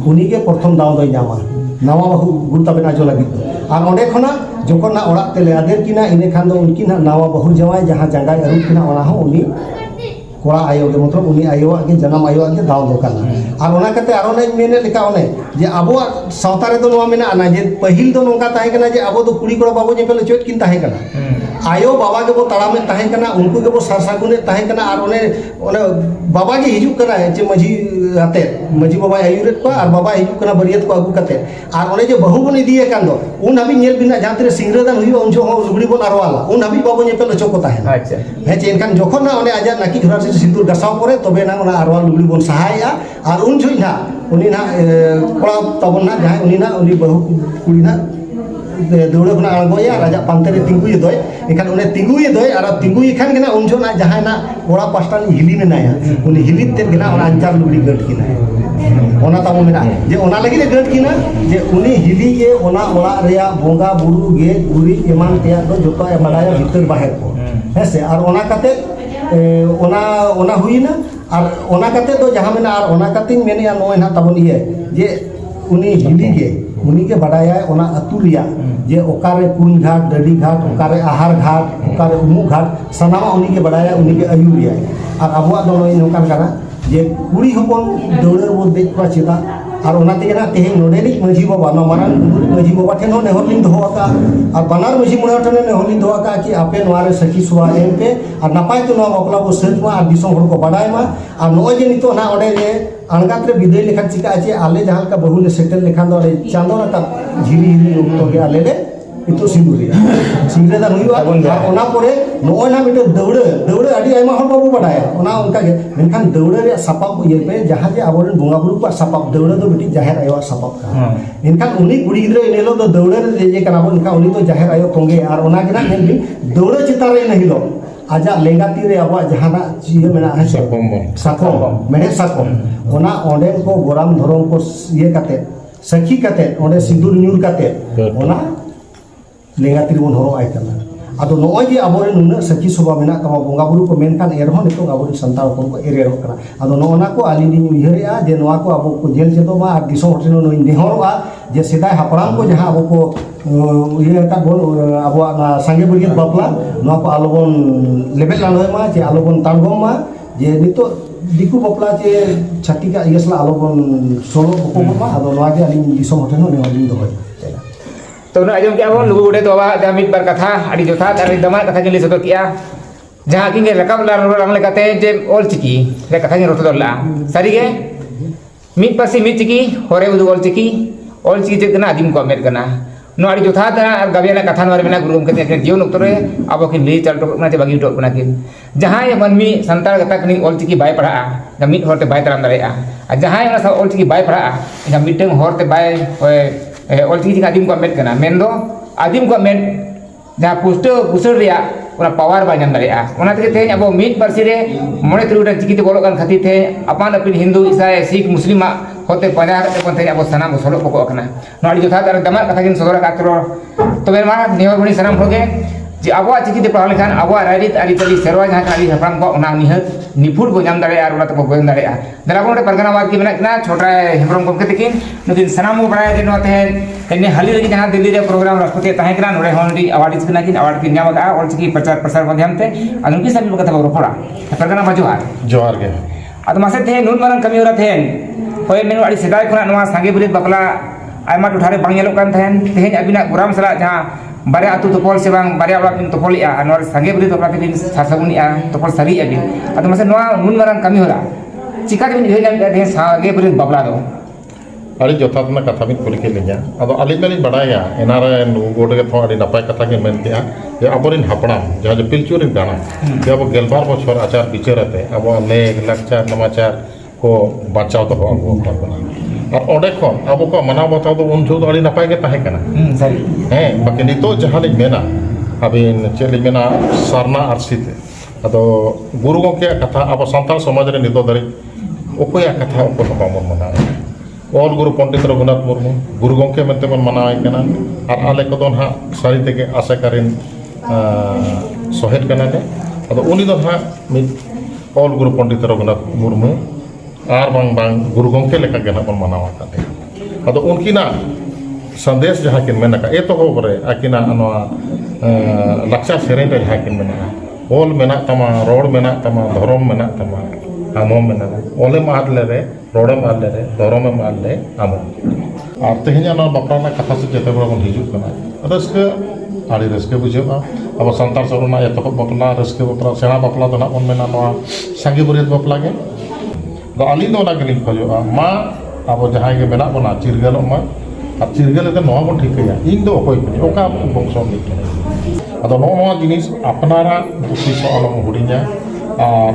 ᱩᱱᱤ ᱜᱮ ᱯᱨᱚᱛᱷᱚᱢ ᱫᱟᱣ ᱫᱚᱭ ᱧᱟᱢᱟ ᱱᱟᱣᱟ ᱵᱟᱹᱦᱩ ᱜᱩᱲ ᱛᱟᱵᱮᱱ ᱟᱡᱚ ᱞᱟᱹᱜᱤᱫ ᱫᱚ ᱟᱨ ᱚᱸᱰᱮ ᱠᱷᱚᱱᱟᱜ ᱡᱚᱠᱷᱚᱱ ᱱᱟᱜ ᱚᱲᱟᱜ ᱛᱮᱞᱮ ᱟᱫᱮᱨ ᱠᱤᱱᱟ ᱤᱱᱟᱹ ᱠᱷᱟᱱ ᱫᱚ ᱩᱱᱠᱤᱱ ᱦᱟᱸᱜ ᱱᱟᱣᱟ ᱵᱟᱹᱦᱩ ᱡᱟᱶᱟᱭ ᱡᱟᱦᱟᱸ ᱡᱟᱸᱜᱟᱭ ᱟᱹᱨᱩᱵ ᱠᱤᱱᱟ ᱚᱱᱟ ᱦᱚᱸ ᱩᱱᱤ ᱠᱚᱲᱟ ᱟᱭᱳ ᱜᱮ ᱢᱚᱛᱞᱚᱵ ᱩᱱᱤ ᱟᱭᱳᱣᱟᱜ ᱜᱮ ᱡᱟᱱᱟᱢ ᱟᱭᱳᱣᱟᱜ ᱜᱮ ᱫᱟᱣ ᱫᱚ ᱠᱟᱱᱟ ᱟᱨ ᱚᱱᱟ ᱠᱟᱛᱮ ᱟᱨ ᱚᱱᱮᱧ ᱢᱮᱱᱮᱫ ᱞᱮᱠᱟ ᱚᱱᱮ ᱡᱮ ᱟᱵᱚᱣᱟᱜ ᱥᱟᱶᱛᱟ ᱨᱮᱫᱚ ᱱᱚᱣᱟ ᱢᱮᱱᱟᱜᱼᱟ ᱱᱟ ᱡᱮ ᱯᱟᱹᱦᱤᱞ ᱫᱚ ᱱᱚᱝᱠᱟ ᱛᱟᱦᱮᱸ ᱠᱟᱱᱟ ᱡᱮ ᱟᱵᱚ ᱫᱚ ᱠᱩᱲᱤ ᱠᱚᱲᱟ ᱵᱟᱵᱚ ᱧᱮᱯᱮᱞ ᱦᱚᱪᱚᱭᱮᱫ ᱠᱤᱱ ᱛᱟᱦᱮᱸ ᱠᱟᱱᱟ ᱟᱭᱳ ᱵᱟᱵᱟ ᱜᱮᱵᱚ ᱛᱟᱲᱟᱢᱮᱫ ᱛᱟᱦᱮᱸ ᱠᱟᱱᱟ ᱩᱱᱠᱩ ᱜᱮᱵᱚ ᱥᱟᱨ ᱥᱟᱹᱜᱩᱱᱮᱫ ᱛᱟᱦᱮᱸ ᱠᱟᱱᱟ ᱟᱨ ᱚᱱᱮ ᱚᱱᱮ ᱵᱟᱵᱟ ᱜᱮ ᱦᱤᱡᱩᱜ ᱠᱟᱱᱟᱭ ᱡᱮ ᱢᱟᱺᱡᱷᱤ ᱟᱛᱮᱫ ᱢᱟᱺᱡᱷᱤ ᱵᱟᱵᱟᱭ ᱟᱹᱭᱩᱨᱮᱫ ᱠᱚᱣᱟ ᱟᱨ ᱵᱟᱵᱟᱭ ᱦᱤᱡᱩᱜ ᱠᱟᱱᱟ ᱵᱟᱹᱨᱭᱟᱹᱛ ᱠᱚ ᱟᱹᱜᱩ ᱠᱟᱛᱮᱫ ᱟᱨ ᱚᱱᱮ ᱡᱮ ᱵᱟᱹᱦᱩ ᱵᱚᱱ ᱤᱫᱤᱭᱮ ᱠᱟᱱ ᱫᱚ ᱩᱱ ᱦᱟᱹᱵᱤᱡ ᱧᱮᱞ ᱵᱤᱱ ᱦᱟᱸᱜ ᱡᱟᱦᱟᱸ ᱛᱤᱱᱟᱹᱜ ᱥᱤᱝᱨᱟᱹᱫᱟᱱ ᱦᱩᱭᱩᱜᱼᱟ ᱩᱱ ᱡᱚᱠᱷᱚᱱ ᱦᱚᱸ ᱞᱩᱜᱽᱲᱤ ᱵᱚᱱ ᱟᱨᱣᱟᱞᱟ ᱩᱱ ᱦᱟᱹᱵᱤᱡ ᱵᱟᱵᱚ ᱧᱮᱯᱮᱞ ᱦᱚᱪᱚ ᱠᱚ ᱛᱟᱦᱮᱱᱟ ᱟᱪᱪᱷᱟ᱾ ᱦᱮᱸ ᱪᱮ ᱮᱱᱠᱷᱟᱱ ᱡᱚᱠᱷᱚᱱ ᱦᱟᱸᱜ ᱚᱸᱰᱮ ᱟᱡᱟᱜ ᱱᱟᱹᱠᱤᱡ ᱦᱚᱨᱟ ᱥᱮ ᱥᱤᱸᱫᱩᱨ ᱜᱟᱥᱟᱣ ᱯᱚᱨᱮ ᱛᱚᱵᱮ ᱱᱟᱝ ᱚᱱᱟ ᱟᱨᱣᱟᱞ ᱞᱩᱜᱽᱲᱤ ᱵᱚᱱ ᱥᱟᱦᱟᱭᱮᱜᱼᱟ ᱟᱨ ᱩᱱ ᱡᱚᱦᱚᱜ ᱱᱟᱜ ᱩᱱᱤ ᱱᱟᱜ ᱠᱚᱲᱟ ᱛᱟᱵᱚᱱ ᱱᱟᱜ ᱡᱟᱦᱟᱸᱭ ᱩᱱᱤ ᱱᱟᱜ ᱩᱱᱤ ᱵᱟᱹᱦᱩ ᱠᱩᱲᱤ ᱱᱟᱜ ᱫᱟᱹᱣᱲᱟᱹ ᱠᱷᱚᱱᱟᱜ ᱟᱬᱜᱚᱭᱮᱭᱟ ᱟᱨ ᱟᱡᱟᱜ ᱯᱟᱱᱛᱮ ᱨᱮ ᱛᱤᱸᱜᱩᱭᱮ ᱫᱚᱭ ᱮᱱᱠᱷᱟᱱ ᱚᱱᱮ ᱛᱤᱸᱜᱩᱭᱮ ᱫᱚᱭ ᱟᱨ ᱛᱤᱸᱜᱩᱭᱮ ᱠᱷᱟᱱ ᱜᱮ ᱱᱟᱜ ᱩᱱ ᱡᱚᱦᱚᱜ ᱱᱟᱜ ᱡᱟᱦᱟᱸᱭ ᱱᱟᱜ ᱠᱚᱲᱟ ᱯᱟᱥᱴᱟ ᱨᱤᱱᱤᱡ ᱦᱤᱞᱤ ᱢᱮᱱᱟᱭᱟ ᱩᱱᱤ ᱦᱤᱞᱤ ᱛᱮᱫ ᱜᱮ ᱱᱟᱜ ᱚᱱᱟ ᱟᱧᱪᱟᱨ ᱞᱩᱜᱽᱲᱤ ᱜᱟᱹᱴ ᱠᱤᱱᱟᱭ ᱚᱱᱟ ᱛᱟᱵᱚ ᱢᱮᱱᱟᱜᱼᱟ ᱡᱮ ᱚᱱᱟ ᱞᱟᱹᱜᱤᱫ ᱮ ᱜᱟᱹᱴ ᱠᱤᱱᱟ ᱡᱮ ᱩᱱᱤ ᱦᱤᱞᱤ ᱜᱮ ᱚᱱᱟ ᱚᱲᱟᱜ ᱨᱮᱭᱟᱜ ᱵᱚᱸᱜᱟ ᱵᱩᱨᱩ ᱜᱮᱡ ᱜᱩᱨᱤᱡ ᱮᱢᱟᱱ ᱛᱮᱭᱟᱜ ᱫᱚ ᱡᱚᱛᱚᱣᱟᱜ ᱮ ᱵᱟᱰᱟᱭᱟ ᱵᱷᱤᱛᱟᱹᱨ ᱵᱟᱦᱮᱨ ᱠᱚ ᱦᱮᱸ ᱥᱮ ᱟᱨ ᱚᱱᱟ ᱠᱟᱛᱮ ᱚᱱᱟ ᱚᱱᱟ ᱦᱩᱭᱮᱱᱟ ᱟᱨ ᱚᱱᱟ ᱠᱟᱛᱮ ᱫᱚ ᱡᱟᱦᱟᱸ ᱢᱮᱱᱟᱜᱼᱟ ᱟᱨ ᱚᱱᱟ ᱠᱟᱛᱮᱧ ᱢᱮᱱᱮᱜᱼᱟ ᱱᱚᱜᱼᱚᱭ ᱱᱟᱜ ᱛᱟᱵᱚᱱ ᱤᱭᱟᱹ ᱡᱮ ᱩᱱᱤ ᱦᱤᱞᱤ ᱜᱮ ᱩᱱᱤ ᱜᱮ ᱵᱟᱰᱟᱭᱟᱭ ᱚᱱᱟ ᱟᱹᱛᱩ ᱨᱮᱭᱟᱜ ᱡᱮ ᱚᱠᱟᱨᱮ ᱠᱩᱧ ᱜᱷᱟᱴ ᱰᱟᱹᱰᱤ ᱜᱷᱟᱴ ᱚᱠᱟᱨᱮ ᱟᱦᱟᱨ ᱜᱷᱟᱴ ᱚᱠᱟᱨᱮ ᱩᱢᱩᱜ ᱜᱷᱟᱴ ᱥᱟᱱᱟᱢᱟᱜ ᱩᱱᱤ ᱜᱮ ᱵᱟᱰᱟᱭᱟᱭ ᱩᱱᱤ ᱜᱮ ᱟᱹᱭᱩᱨᱮᱭᱟᱭ ᱟᱨ ᱟᱵᱚᱣᱟᱜ ᱫᱚ ᱱᱚᱜᱼᱚᱭ ᱱᱚᱝᱠᱟᱱ ᱠᱟᱱᱟ ᱡᱮ ᱠᱩᱲᱤ ᱦᱚᱯᱚᱱ ᱫᱟᱹᱣᱲᱟᱹ ᱨᱮᱵᱚᱱ ᱫᱮᱡ ᱠᱚᱣᱟ ᱪᱮᱫᱟᱜ ᱟᱨ ᱚᱱᱟ ᱛᱮᱜᱮ ᱱᱟᱜ ᱛᱮᱦᱮᱧ ᱱᱚᱰᱮᱱᱤᱡ ᱢᱟᱺᱡᱷᱤ ᱵᱟᱵᱟ ᱱᱚᱣᱟ ᱢᱟᱨᱟᱝ ᱜᱩᱰᱩᱨᱤ ᱢᱟᱺᱡᱷᱤ ᱵᱟᱵᱟ ᱴᱷᱮᱱ ᱦᱚᱸ ᱱᱮᱦᱚᱨ ᱞᱤᱧ ᱫᱚᱦᱚ ᱟᱠᱟᱫᱼᱟ ᱟᱨ ᱵᱟᱱᱟᱨ ᱢᱟᱺᱡᱷᱤ ᱢᱚᱬᱮ ᱦᱚᱲ ᱴᱷᱮᱱ ᱦᱚᱸ ᱱᱮᱦᱚᱨ ᱞᱤᱧ ᱫᱚᱦᱚ ᱟᱠᱟᱫᱼᱟ ᱠᱤ ᱟᱯᱮ ᱱᱚᱣᱟ ᱨᱮ ᱥᱟᱹᱠᱷᱤ ᱥᱚᱵᱷᱟ ᱮᱢ ᱯᱮ ᱟᱨ ᱱᱟᱯᱟᱭ ᱛᱮ ᱱᱚᱣᱟ ᱵᱟᱯᱞᱟ ᱵᱚᱱ ᱥᱟᱹᱛ ᱢᱟ ᱟᱨ ᱫᱤᱥᱚᱢ ᱦᱚᱲ ᱠᱚ ᱵᱟᱰᱟᱭ ᱢᱟ ᱟᱨ ᱱᱚᱜᱼᱚᱭ ᱡᱮ ᱱᱤᱛᱚᱜ ᱱᱟᱜ ᱚᱸᱰᱮ ᱡᱮ ᱟᱬᱜᱟᱛ ᱨᱮ ᱵᱤᱫᱟᱹᱭ ᱞᱮᱠᱷᱟᱱ ᱪᱤᱠᱟᱹᱜᱼᱟ ᱡᱮ ᱟᱞᱮ ᱡᱟᱦᱟᱸ ᱞᱮᱠᱟ ᱵᱟᱹᱦᱩ ᱞᱮ ᱥᱮᱴᱮᱨ ᱞᱮᱠᱷᱟᱱ ᱫᱚ ᱟᱞᱮ ᱪᱟᱸᱫᱚ ᱨᱟᱠᱟᱵ ᱡᱷᱤᱨᱤ ᱦᱤᱨᱤ ᱚᱠᱛᱚ ᱜᱮ ᱟᱞᱮ ᱞᱮ ᱤᱛᱩᱫ ᱥᱤᱸᱫᱩᱨᱮᱜᱼᱟ ᱥᱤᱸᱫᱽᱨᱟᱹᱫᱟᱱ ᱦᱩᱭᱩᱜᱼᱟ ᱟᱨ ᱚᱱᱟ ᱯᱚᱨᱮ ᱱᱚᱜᱼᱚᱭ ᱱᱟ ᱢᱤᱫᱴᱮᱱ ᱫᱟᱹᱣᱲᱟᱹ ᱫᱟᱹᱣᱲᱟᱹ ᱟᱹᱰᱤ ᱟᱭᱢᱟ ᱦᱚᱲ ᱵᱟᱵᱚ ᱵᱟᱰᱟᱭᱟ ᱚᱱᱟ ᱚᱱᱠᱟ ᱜᱮ ᱢᱮᱱᱠᱷᱟᱱ ᱫᱟᱹᱣᱲᱟᱹ ᱨᱮᱭᱟᱜ ᱥᱟᱯᱟᱵ ᱤᱭᱟᱹ ᱯᱮ ᱡᱟᱦᱟᱸ ᱡᱮ ᱟᱵᱚᱨᱮᱱ ᱵᱚᱸᱜᱟ ᱵᱩᱨᱩ ᱠᱚᱣᱟᱜ ᱥᱟᱯᱟᱵ ᱫᱟᱹᱣᱲᱟᱹ ᱫᱚ ᱢᱤᱫᱴᱤᱡ ᱡᱟᱦᱮᱨ ᱟᱭᱳᱣᱟᱜ ᱥᱟᱯᱟᱵ ᱠᱟᱱᱟ ᱮᱱᱠᱷᱟᱱ ᱩᱱᱤ ᱠᱩᱲᱤ ᱜᱤᱫᱽᱨᱟᱹ ᱤᱱᱟᱹ ᱦᱤᱞᱳᱜ ᱫᱚ ᱫᱟᱹᱣᱲᱟᱹ ᱨᱮ ᱫᱮᱡᱮ ᱠᱟᱱᱟ ᱵᱚᱱ ᱮᱱᱠᱷᱟᱱ ᱩᱱᱤ ᱫᱚ ᱡᱟᱦᱮᱨ ᱟᱭᱳ ᱛᱚᱸᱜᱮ ᱟᱨ ᱚᱱᱟ ᱜᱮ ᱱᱟᱜ ᱧᱮᱞ ᱵᱤᱱ ᱫᱟᱹᱣᱲᱟᱹ ᱪᱮᱛᱟᱱ ᱨᱮ ᱤᱱᱟᱹ ᱦᱤᱞᱳᱜ ᱟᱡᱟᱜ ᱞᱮᱸᱜᱟ ᱛᱤ ᱨᱮ ᱟᱵᱚᱣᱟᱜ ᱡᱟᱦᱟᱱᱟᱜ ᱪᱤᱭᱟᱹ ᱢᱮᱱᱟᱜᱼᱟ ᱦᱮᱸ ᱥᱮ? ᱥᱟᱠᱚᱢ ᱵᱚᱱ ᱥᱟᱠᱚᱢ ᱢᱮᱬᱦᱮᱫ ᱥᱟᱠᱚᱢ ᱚᱱᱟ ᱚᱸᱰᱮ ᱠᱚ ᱜᱚᱨᱟᱢ ᱫᱷᱚᱨᱚᱢ ᱠᱚ ᱤᱭᱟᱹ ᱠᱟᱛᱮ ᱥᱟᱹᱠᱷᱤ ᱠᱟᱛᱮ ᱚᱸᱰᱮ ᱥᱤᱸᱫᱩᱨ ᱧᱩᱨ ᱠᱟᱛᱮ ᱚᱱᱟ ᱞᱮᱸᱜᱟ ᱛᱤ ᱨᱮᱵᱚᱱ ᱦᱚᱨᱚᱜ ᱟᱭ ᱠᱟᱱᱟ ᱟᱫᱚ ᱱᱚᱜᱼᱚᱭ ᱡᱮ ᱟᱵᱚᱨᱮᱱ ᱱᱩᱱᱟᱹᱜ ᱥᱟᱹᱠᱷᱤ ᱥᱚᱵᱷᱟ ᱢᱮᱱᱟᱜ ᱠᱚᱣᱟ ᱵᱚᱸᱜᱟ ᱵᱩᱨᱩ ᱠᱚ ᱢᱮᱱᱠᱷᱟᱱ ᱮᱱᱨᱮᱦᱚᱸ ᱱᱤᱛᱚᱜ ᱟᱵᱚᱨᱮᱱ ᱥᱟᱱᱛᱟᱲ ᱦᱚᱯᱚᱱ ᱠᱚ ᱮᱨᱮᱲᱚᱜ ᱠᱟᱱᱟ ᱟᱫᱚ ᱱᱚᱜᱼᱚ ᱱᱟ ᱠᱚ ᱟᱹᱞᱤᱧ ᱞᱤᱧ ᱩᱭᱦᱟᱹᱨᱮᱜᱼᱟ ᱡᱮ ᱱᱚᱣᱟ ᱠᱚ ᱟᱵᱚ ᱠᱚ ᱧᱮᱞ ᱪᱮᱫᱚᱜ ᱢᱟ ᱟᱨ ᱫᱤᱥᱚᱢ ᱦᱚᱲ ᱴᱷᱮᱱ ᱦᱚᱸ ᱱᱚᱣᱟᱧ ᱱᱮᱦᱚᱨᱚᱜᱼᱟ ᱡᱮ ᱥᱮᱫᱟᱭ ᱦᱟᱯᱲᱟᱢ ᱠᱚ ᱡᱟᱦᱟᱸ ᱟᱵᱚ ᱠᱚ ᱩᱭᱦᱟᱹᱨᱟᱠᱟᱫ ᱵᱚᱱ ᱟᱵᱚᱣᱟᱜ ᱚᱱᱟ ᱥᱟᱸᱜᱮ ᱵᱟᱹᱨᱭᱟᱹᱛ ᱵᱟᱯᱞᱟ ᱱᱚᱣᱟ ᱠᱚ ᱟᱞᱚ ᱵᱚᱱ ᱞᱮᱵᱮᱫ ᱞᱟᱸᱰᱚᱭ ᱢᱟ ᱪᱮ ᱟᱞᱚ ᱵᱚᱱ ᱛᱟᱲᱜᱚᱢ ᱢᱟ ᱡᱮ ᱱᱤᱛᱚᱜ ᱫᱤᱠᱩ ᱵᱟᱯᱞᱟ ᱪᱮ ᱪᱷᱟᱹᱛᱤᱠᱟᱜ ᱤᱭᱟᱹ ᱥᱟᱞᱟᱜ ᱟᱞᱚ ᱵᱚᱱ ᱥᱚᱲᱚ ᱠᱚᱯᱚᱲᱚᱜ ᱢᱟ ᱟᱫᱚ ᱱᱚᱣᱟ ᱜᱮ ᱟᱹᱞᱤᱧ ᱫᱤᱥᱚᱢ ᱦᱚᱲ ᱴᱷᱮᱱ ᱦᱚᱸ ᱱᱮᱦᱚᱨ ᱞᱤᱧ ᱫᱚᱦᱚᱭᱟ ᱛᱚ ᱩᱱᱟᱹᱜ ᱟᱸᱡᱚᱢ ᱠᱮᱜᱼᱟ ᱵᱚᱱ ᱞᱩᱜᱩ ᱜᱚᱰᱮᱛ ᱵᱟᱵᱟᱣᱟᱜ ᱡᱟᱦᱟᱸ ᱢᱤᱫ ᱵᱟᱨ ᱠᱟᱛᱷᱟ ᱟᱹᱰᱤ ᱡᱚᱛᱷᱟᱛ ᱟᱨ ᱟᱹᱰᱤ ᱫᱟᱢᱟᱱᱟᱜ ᱠᱟᱛᱷᱟ ᱜᱮ ᱞᱟᱹᱭ ᱥᱚᱫᱚᱨ ᱠᱮᱜᱼᱟ ᱡᱟᱦᱟᱸ ᱠᱤᱱ ᱨᱟᱠᱟᱵ ᱞᱮᱱᱟ ᱨᱚᱲ ᱟᱲᱟᱝ ᱞᱮᱠᱟᱛᱮ ᱡᱮ ᱚᱞ ᱪᱤᱠᱤ ᱨᱮ ᱠᱟᱛᱷᱟ ᱜᱮ ᱨᱚᱲ ᱥᱚᱫᱚᱨ ᱞᱮᱜᱼᱟ ᱥᱟᱹᱨᱤᱜᱮ ᱢᱤᱫ ᱯᱟᱹᱨᱥᱤ ᱢᱤᱫ ᱪᱤᱠᱤ ᱦᱚᱨᱮ ᱩᱫᱩᱜ ᱚᱞ ᱪᱤᱠᱤ ᱚᱞ ᱪᱤᱠᱤ ᱪᱮᱫ ᱠᱟᱱᱟ ᱟᱹᱫᱤᱢ ᱠᱚᱣᱟᱜ ᱢᱮᱫ ᱠᱟᱱᱟ ᱱᱚᱣᱟ ᱟᱹᱰᱤ ᱡᱚᱛᱷᱟᱛ ᱟᱨ ᱜᱟᱵᱮᱞᱟᱜ ᱠᱟᱛᱷᱟ ᱱᱚᱣᱟ ᱨᱮ ᱢᱮᱱᱟᱜᱼᱟ ᱜᱩᱨᱩ ᱜᱚᱢᱠᱮ ᱛᱟᱹᱠᱤᱱᱟᱜ ᱡᱤᱭᱚᱱ ᱚᱠᱛᱚ ᱨᱮ ᱟᱵᱚ ᱠᱤᱱ ᱞᱟᱹᱭ ᱪᱟᱞ ᱦᱚᱴᱚ ᱠᱟᱜ ᱵᱚᱱᱟ ᱥᱮ ᱵᱟᱹᱜᱤ ᱦᱚᱴᱚ ᱟᱜ ᱵᱚᱱᱟ ᱠᱤᱱ ᱡᱟᱦᱟᱸᱭ ᱢᱟᱹᱱᱢᱤ ᱥᱟᱱᱛᱟᱲ ᱜᱟᱛᱟᱠ ᱨᱤᱱᱤᱡ ᱚᱞ ᱪᱤᱠᱤ ᱵᱟᱭ ᱯᱟᱲᱦᱟᱜᱼᱟ ᱮᱱᱠᱷᱟᱱ ᱢᱤᱫ ᱦᱚᱨᱛᱮ ᱵᱟᱭ ᱛᱟᱲᱟᱢ ᱫᱟᱲᱮᱭᱟᱜᱼᱟ ᱟᱨ ᱡᱟᱦᱟᱸᱭ ᱚᱱᱟ ᱥᱟᱶ ᱚᱞ ᱪᱤᱠᱤ ᱵᱟᱭ ᱯᱟᱲᱦᱟᱜᱼᱟ ᱮᱱᱠᱷᱟᱱ ᱢᱤᱫᱴᱟᱹᱝ ᱦᱚᱨᱛᱮ ᱵᱟᱭ ᱚᱞ ᱪᱤᱠᱤ ᱪᱮᱠᱟ ᱟᱹᱫᱤᱢ ᱠᱚᱣᱟᱜ ᱢᱮᱫ ᱠᱟᱱᱟ ᱢᱮᱱᱫᱚ ᱟᱹᱫᱤᱢ ᱠᱚᱣᱟᱜ ᱢᱮᱫ ᱡᱟᱦᱟᱸ ᱯᱩᱥᱴᱟᱹᱣ ᱵᱩᱥᱟᱹᱲ ᱨᱮᱭᱟᱜ ᱚᱱᱟ ᱯᱟᱣᱟᱨ ᱵᱟᱭ ᱧᱟᱢ ᱫᱟᱲᱮᱭᱟᱜᱼᱟ ᱚᱱᱟ ᱛᱮᱜᱮ ᱛᱮᱦᱮᱧ ᱟᱵᱚ ᱢᱤᱫ ᱯᱟᱹᱨᱥᱤ ᱨᱮ ᱢᱚᱬᱮ ᱛᱩᱨᱩᱭ ᱜᱚᱴᱟᱝ ᱪᱤᱠᱤ ᱛᱮᱵᱚᱱ ᱚᱞᱚᱜ ᱠᱟᱱ ᱠᱷᱟᱹᱛᱤᱨ ᱛᱮ ᱟᱯᱟᱱ ᱟᱹᱯᱤᱱ ᱦᱤᱱᱫᱩ ᱤᱥᱟᱭ ᱥᱤᱠᱷ ᱢᱩᱥᱞᱤᱢᱟᱜ ᱦᱚᱛᱮ ᱯᱟᱸᱡᱟ ᱠᱟᱛᱮᱫ ᱵᱚᱱ ᱛᱮᱦᱮᱧ ᱟᱵᱚ ᱥᱟᱱᱟᱢ ᱵᱚᱱ ᱥᱚᱰᱚᱜ ᱯᱚᱯᱚᱜ ᱠᱟᱱᱟ ᱱᱚᱣᱟ ᱟᱹᱰᱤ ᱡᱚᱛᱷᱟᱛ ᱟᱨ ᱫᱟᱢᱟᱱᱟᱜ ᱠᱟᱛᱷᱟ ᱜᱮᱢ ᱥᱚᱫᱚᱨ ᱟᱠᱟᱫ ᱛᱟᱵᱚᱱᱟ ᱛᱚᱵᱮ ᱢᱟ ᱱᱮᱦᱚᱨ ᱦᱚᱸ ᱥᱟᱱᱟᱢ ᱠᱚᱜᱮ ᱡᱮ ᱟᱵᱚᱣᱟᱜ ᱪᱤᱠᱤ ᱛᱮ ᱯᱟᱲᱦᱟᱣ ᱞᱮᱱᱠᱷᱟᱱ ᱟᱵᱚᱣᱟᱜ ᱨᱟᱭᱨᱤᱛ ᱟᱹᱨᱤᱪᱟᱹᱞᱤ ᱥᱮᱨᱣᱟ ᱡᱟᱦᱟᱸ ᱠᱟᱱᱟ ᱟᱹᱜᱤᱞ ᱦᱟᱯᱲᱟᱢ ᱠᱚᱣᱟᱜ ᱚᱱᱟ ᱱᱤᱦᱟᱹᱛ ᱱᱤᱯᱷᱩᱴ ᱵᱚᱱ ᱧᱟᱢ ᱫᱟᱲᱮᱭᱟᱜᱼᱟ ᱟᱨ ᱚᱱᱟ ᱛᱮᱵᱚᱱ ᱜᱚᱭᱚᱱ ᱫᱟᱲᱮᱭᱟᱜᱼᱟ ᱫᱟᱨᱟ ᱵᱚᱱ ᱯᱟᱨᱜᱟᱱᱟ ᱵᱟᱫ ᱜᱮ ᱢᱮᱱᱟᱜ ᱠᱤᱱᱟ ᱪᱷᱚᱴᱟ ᱦᱮᱢᱵᱨᱚᱢ ᱜᱚᱢᱠᱮ ᱛᱟᱹᱠᱤᱱ ᱱᱩᱠᱤᱱ ᱥᱟᱱᱟᱢ ᱵᱚᱱ ᱵᱟᱲᱟᱭᱟ ᱡᱮ ᱱᱚᱣᱟ ᱛᱮᱦᱮᱧ ᱮᱱᱮ ᱦᱟᱹᱞᱤ ᱨᱮᱜᱮ ᱡᱟᱦᱟᱸ ᱫᱤᱞᱞᱤ ᱨᱮ ᱯᱨᱳᱜᱨᱟᱢ ᱨᱟᱥᱴᱨᱚᱯᱚᱛᱤ ᱛᱟᱦᱮᱸ ᱠᱟᱱᱟ ᱱᱚᱰᱮ ᱦᱚᱸ ᱱᱩᱠᱤᱱ ᱟᱣᱟᱨᱰ ᱤᱫᱤ ᱠᱟᱱᱟ ᱠᱤᱱ ᱟᱣᱟᱨᱰ ᱠᱤᱱ ᱧᱟᱢ ᱟᱠᱟᱫᱼᱟ ᱚᱞ ᱪᱤᱠᱤ ᱯᱨᱚᱪᱟᱨ ᱯᱨᱚᱥᱟᱨ ᱢᱟᱫᱽᱫᱷᱚᱢ ᱛᱮ ᱟᱨ ᱱᱩᱠᱤᱱ ᱥᱟᱶ ᱢᱤᱫ ᱠᱟᱛᱷᱟ ᱵᱚᱱ ᱨᱚᱯᱚᱲᱟ ᱯᱟᱨᱜᱟᱱᱟ ᱵᱟ ᱡᱚᱦᱟᱨ ᱡᱚᱦᱟᱨ ᱜᱮ ᱟᱫᱚ ᱢᱟᱥᱮ ᱛᱮᱦᱮᱧ ᱱᱩᱱ ᱢᱟᱨᱟᱝ ᱠᱟᱹᱢᱤ ᱦᱚᱨᱟ ᱛᱮᱦᱮᱧ ᱦᱳᱭ ᱢᱮᱱ ᱟᱹᱰᱤ ᱥᱮᱫᱟᱭ ᱠᱷᱚᱱᱟᱜ ᱱᱚᱣᱟ ᱥᱟᱸᱜᱮ ᱵᱟᱹᱨᱭᱟᱹᱛ ᱵᱟᱯᱞᱟ ᱟᱭᱢᱟ ᱴᱚᱴᱷᱟ ᱨᱮ ᱵᱟᱝ ᱧᱮᱞᱚᱜ ᱠᱟᱱ ᱛᱟᱦᱮᱸᱫ ᱛᱮᱦᱮᱧ ᱟᱹᱵᱤᱱᱟᱜ ᱜᱚᱨᱟᱢ ᱥᱟᱞᱟᱜ ᱡᱟᱦᱟᱸ ᱵᱟᱨᱭᱟ ᱟᱹᱛᱩ ᱛᱚᱯᱚᱞ ᱥᱮ ᱵᱟᱝ ᱵᱟᱨᱭᱟ ᱚᱲᱟᱜ ᱵᱤᱱ ᱛᱚᱯᱚᱞᱮᱜᱼᱟ ᱟᱨ ᱱᱚᱣᱟ ᱥᱟᱸᱜᱮ ᱵᱟᱹᱨᱭᱟᱹᱛ ᱵᱟᱯᱞᱟ ᱛᱮᱵᱤᱱ ᱥᱟᱨ ᱥᱟᱹᱜᱩᱱᱮᱜᱼᱟ ᱛᱚᱯᱚᱞ ᱥᱟᱹᱨᱤᱭᱮᱜᱼᱟ ᱵᱤᱱ ᱟᱫᱚ ᱢᱟᱥᱮ ᱱᱚᱣᱟ ᱱᱩᱱ ᱢᱟᱨᱟᱝ ᱠᱟᱹᱢᱤ ᱦᱚᱨᱟ ᱪᱤᱠᱟᱹ ᱛᱮᱵᱤᱱ ᱩᱭᱦᱟᱹᱨ ᱧᱟᱢ ᱠᱮᱜᱼᱟ ᱛᱮᱦᱮᱧ ᱥᱟᱸᱜᱮ ᱵᱟᱹᱨᱭᱟᱹᱛ ᱵᱟᱯᱞᱟ ᱫᱚ ᱟᱹᱰᱤ ᱡᱚᱛᱷᱟᱛ ᱨᱮᱱᱟᱜ ᱠᱟᱛᱷᱟ ᱵᱤᱱ ᱠᱩᱞᱤ ᱠᱮᱫ ᱞᱤᱧᱟᱹ ᱟᱫᱚ ᱟᱹᱞᱤᱧ ᱢᱟᱞᱤᱧ ᱵᱟᱰᱟᱭᱟ ᱮᱱᱟᱱ ᱨᱮ ᱱᱩᱠᱩ ᱜᱚᱰ ᱜᱮᱛ ᱦᱚᱸ ᱟᱹᱰᱤ ᱱᱟᱯᱟᱭ ᱠᱟᱛᱷᱟ ᱜᱮ ᱢᱮᱱ ᱠᱮᱜᱼᱟ ᱡᱮ ᱟᱵᱚ ᱨᱮᱱ ᱦᱟᱯᱲᱟᱢ ᱡᱟᱦᱟᱸ ᱡᱮ ᱯᱤᱞᱪᱩ ᱨᱮᱱ ᱠᱟᱬᱟ ᱡᱮ ᱟᱵᱚ ᱜᱮᱞᱵᱟᱨ ᱵᱚᱪᱷᱚᱨ ᱟᱪᱟᱨ ᱵᱤᱪᱟᱹᱨ ᱟᱛᱮᱫ ᱟᱵᱚᱣᱟᱜ ᱞᱮᱠ ᱞᱟᱠᱪᱟᱨ ᱱᱟᱢᱟᱪᱟᱨ ᱠᱚ ᱵᱟᱧᱪᱟᱣ ᱫᱚᱦᱚ ᱟᱹᱜᱩ ᱟᱠᱟᱫ ᱵᱚᱱᱟ ᱟᱨ ᱚᱸᱰᱮ ᱠᱷᱚᱱ ᱟᱵᱚ ᱠᱚᱣᱟᱜ ᱢᱟᱱᱟᱣ ᱵᱟᱛᱟᱣ ᱫᱚ ᱩᱱ ᱡᱚᱦᱚᱜ ᱫᱚ ᱟᱹᱰᱤ ᱱᱟᱯᱟᱭ ᱜᱮ ᱛᱟᱦᱮᱸ ᱠᱟᱱᱟ ᱦᱮᱸ ᱵᱟᱠᱤ ᱱᱤᱛᱚᱜ ᱡᱟᱦᱟᱸ ᱞᱤᱧ ᱢᱮᱱᱟ ᱟᱹᱵᱤᱱ ᱪᱮᱫ ᱞᱤᱧ ᱢᱮᱱᱟ ᱥᱟᱨᱱᱟ ᱟᱨ ᱥᱤᱛᱟᱹ ᱟᱫᱚ ᱜᱩᱨᱩ ᱜᱚᱢᱠᱮᱭᱟᱜ ᱠᱟᱛᱷᱟ ᱟᱵᱚ ᱥᱟᱱᱛᱟᱲ ᱥᱚᱢᱟᱡᱽ ᱨᱮ ᱱᱤᱛᱚᱜ ᱫᱷᱟᱹᱨᱤᱡ ᱚᱠᱚᱭᱟᱜ ᱠᱟᱛᱷᱟ ᱦᱚᱸ ᱚᱠᱚᱭ ᱦᱚᱸ ᱵᱟᱵᱚᱱ ᱢᱟᱱᱟᱣᱮᱫᱼᱟ ᱚᱞ ᱜᱩᱨᱩ ᱯᱚᱱᱰᱤᱛ ᱨᱚᱜᱷᱩᱱᱟᱛᱷ ᱢᱩᱨᱢᱩ ᱜᱩᱨᱩ ᱜᱚᱢᱠᱮ ᱢᱮᱱᱛᱮ ᱵᱚᱱ ᱢᱟᱱᱟᱣᱮ ᱠᱟᱱᱟ ᱟᱨ ᱟᱞᱮ ᱠᱚᱫᱚ ᱱᱟᱦᱟᱜ ᱥᱟᱹᱨᱤ ᱛᱮᱜᱮ ᱟᱥᱮᱠᱟ ᱨᱮᱱ ᱥᱚᱦᱮᱫ ᱠᱟᱱᱟᱞᱮ ᱟᱫᱚ ᱩᱱᱤ ᱫᱚ ᱱᱟᱦᱟᱜ ᱢᱤᱫ ᱚᱞ ᱜᱩᱨᱩ ᱯᱚᱱᱰᱤᱛ ᱨᱚᱜᱷᱩᱱᱟᱛᱷ ᱢᱩᱨᱢᱩ ᱟᱨ ᱵᱟᱝ ᱵᱟᱝ ᱜᱩᱨᱩ ᱜᱚᱢᱠᱮ ᱞᱮᱠᱟ ᱜᱮ ᱱᱟᱦᱟᱜ ᱵᱚᱱ ᱢᱟᱱᱟᱣ ᱟᱠᱟᱫᱮᱭᱟ ᱟᱫᱚ ᱩᱱᱠᱤᱱᱟᱜ ᱥᱟᱸᱫᱮᱥ ᱡᱟᱦᱟᱸ ᱠᱤᱱ ᱢᱮᱱ ᱟᱠᱟᱫ ᱮᱛᱚᱦᱚᱵ ᱨᱮ ᱟᱹᱠᱤᱱᱟᱜ ᱱᱚᱣᱟ ᱞᱟᱠᱪᱟᱨ ᱥᱮᱨᱮᱧ ᱨᱮ ᱡᱟᱦᱟᱸ ᱠᱤᱱ ᱢᱮᱱᱟᱜᱼᱟ ᱚᱞ ᱢᱮᱱᱟᱜ ᱛᱟᱢᱟ ᱨᱚᱲ ᱢᱮᱱᱟᱜ ᱛᱟᱢᱟ ᱫᱷᱚᱨᱚᱢ ᱢᱮᱱᱟᱜ ᱛᱟᱢᱟ ᱟᱢ ᱦᱚᱸ ᱢᱮᱱᱟᱢᱟ ᱚᱞᱮᱢ ᱟᱫ ᱞᱮᱨᱮ ᱨᱚᱲᱮᱢ ᱟᱫ ᱞᱮᱨᱮ ᱫᱷᱚᱨᱚᱢᱮᱢ ᱟᱫ ᱞᱮ ᱟᱢᱚ ᱟᱨ ᱛᱮᱦᱮᱧᱟᱜ ᱱᱚᱣᱟ ᱵᱟᱯᱞᱟ ᱨᱮᱱᱟᱜ ᱠᱟᱛᱷᱟ ᱥᱮᱫ ᱡᱮᱛᱮ ᱦᱚᱲ ᱵᱚᱱ ᱦᱤᱡᱩᱜ ᱠᱟᱱᱟ ᱨᱟᱹᱥᱠᱟᱹ ᱟᱹᱰᱤ ᱨᱟᱹᱥᱠᱟᱹ ᱵᱩᱡᱷᱟᱹᱜᱼᱟ ᱟᱵᱚ ᱥᱟᱱᱛᱟᱲ ᱥᱚᱢᱟᱡᱽ ᱨᱮᱱᱟᱜ ᱮᱛᱚᱦᱚᱵ ᱵᱟᱯᱞᱟ ᱨᱟᱹᱥᱠᱟᱹ ᱵᱟᱯᱞᱟ ᱥᱮᱬᱟ ᱵᱟᱯᱞᱟ ᱫᱚ ᱦᱟᱸᱜ ᱵᱚᱱ ᱢᱮᱱᱟ ᱱᱚᱣᱟ ᱥᱟᱸᱜᱮ ᱵᱟᱹᱨᱭᱟᱹᱛ ᱵᱟᱯᱞᱟ ᱜᱮ ᱟᱫᱚ ᱟᱹᱞᱤᱧ ᱫᱚ ᱚᱱᱟ ᱜᱮᱞᱤᱧ ᱠᱷᱚᱡᱚᱜᱼᱟ ᱢᱟ ᱟᱵᱚ ᱡᱟᱦᱟᱸᱭ ᱜᱮ ᱢᱮᱱᱟᱜ ᱵᱚᱱᱟ ᱪᱤᱨᱜᱟᱹᱞᱚᱜ ᱢᱟ ᱟᱨ ᱪᱤᱨᱜᱟᱹᱞ ᱠᱟᱛᱮᱫ ᱱᱚᱣᱟ ᱵᱚᱱ ᱴᱷᱤᱠᱟᱹᱭᱟ ᱤᱧ ᱫᱚ ᱚᱠᱚᱭ ᱠᱟᱹᱱᱟᱹᱧ ᱚᱠᱟ ᱵᱚᱝᱥᱚ ᱨᱤᱱᱤᱡ ᱠᱟᱹᱱᱟᱹᱧ ᱟᱫᱚ ᱱᱚᱜᱼᱚ ᱱᱚᱣᱟ ᱡᱤᱱᱤᱥ ᱟᱯᱱᱟᱨᱟᱜ ᱫᱚ ᱛᱤᱥ ᱦᱚᱸ ᱟᱞᱚᱢ ᱦᱤᱲᱤᱧᱟ ᱟᱨ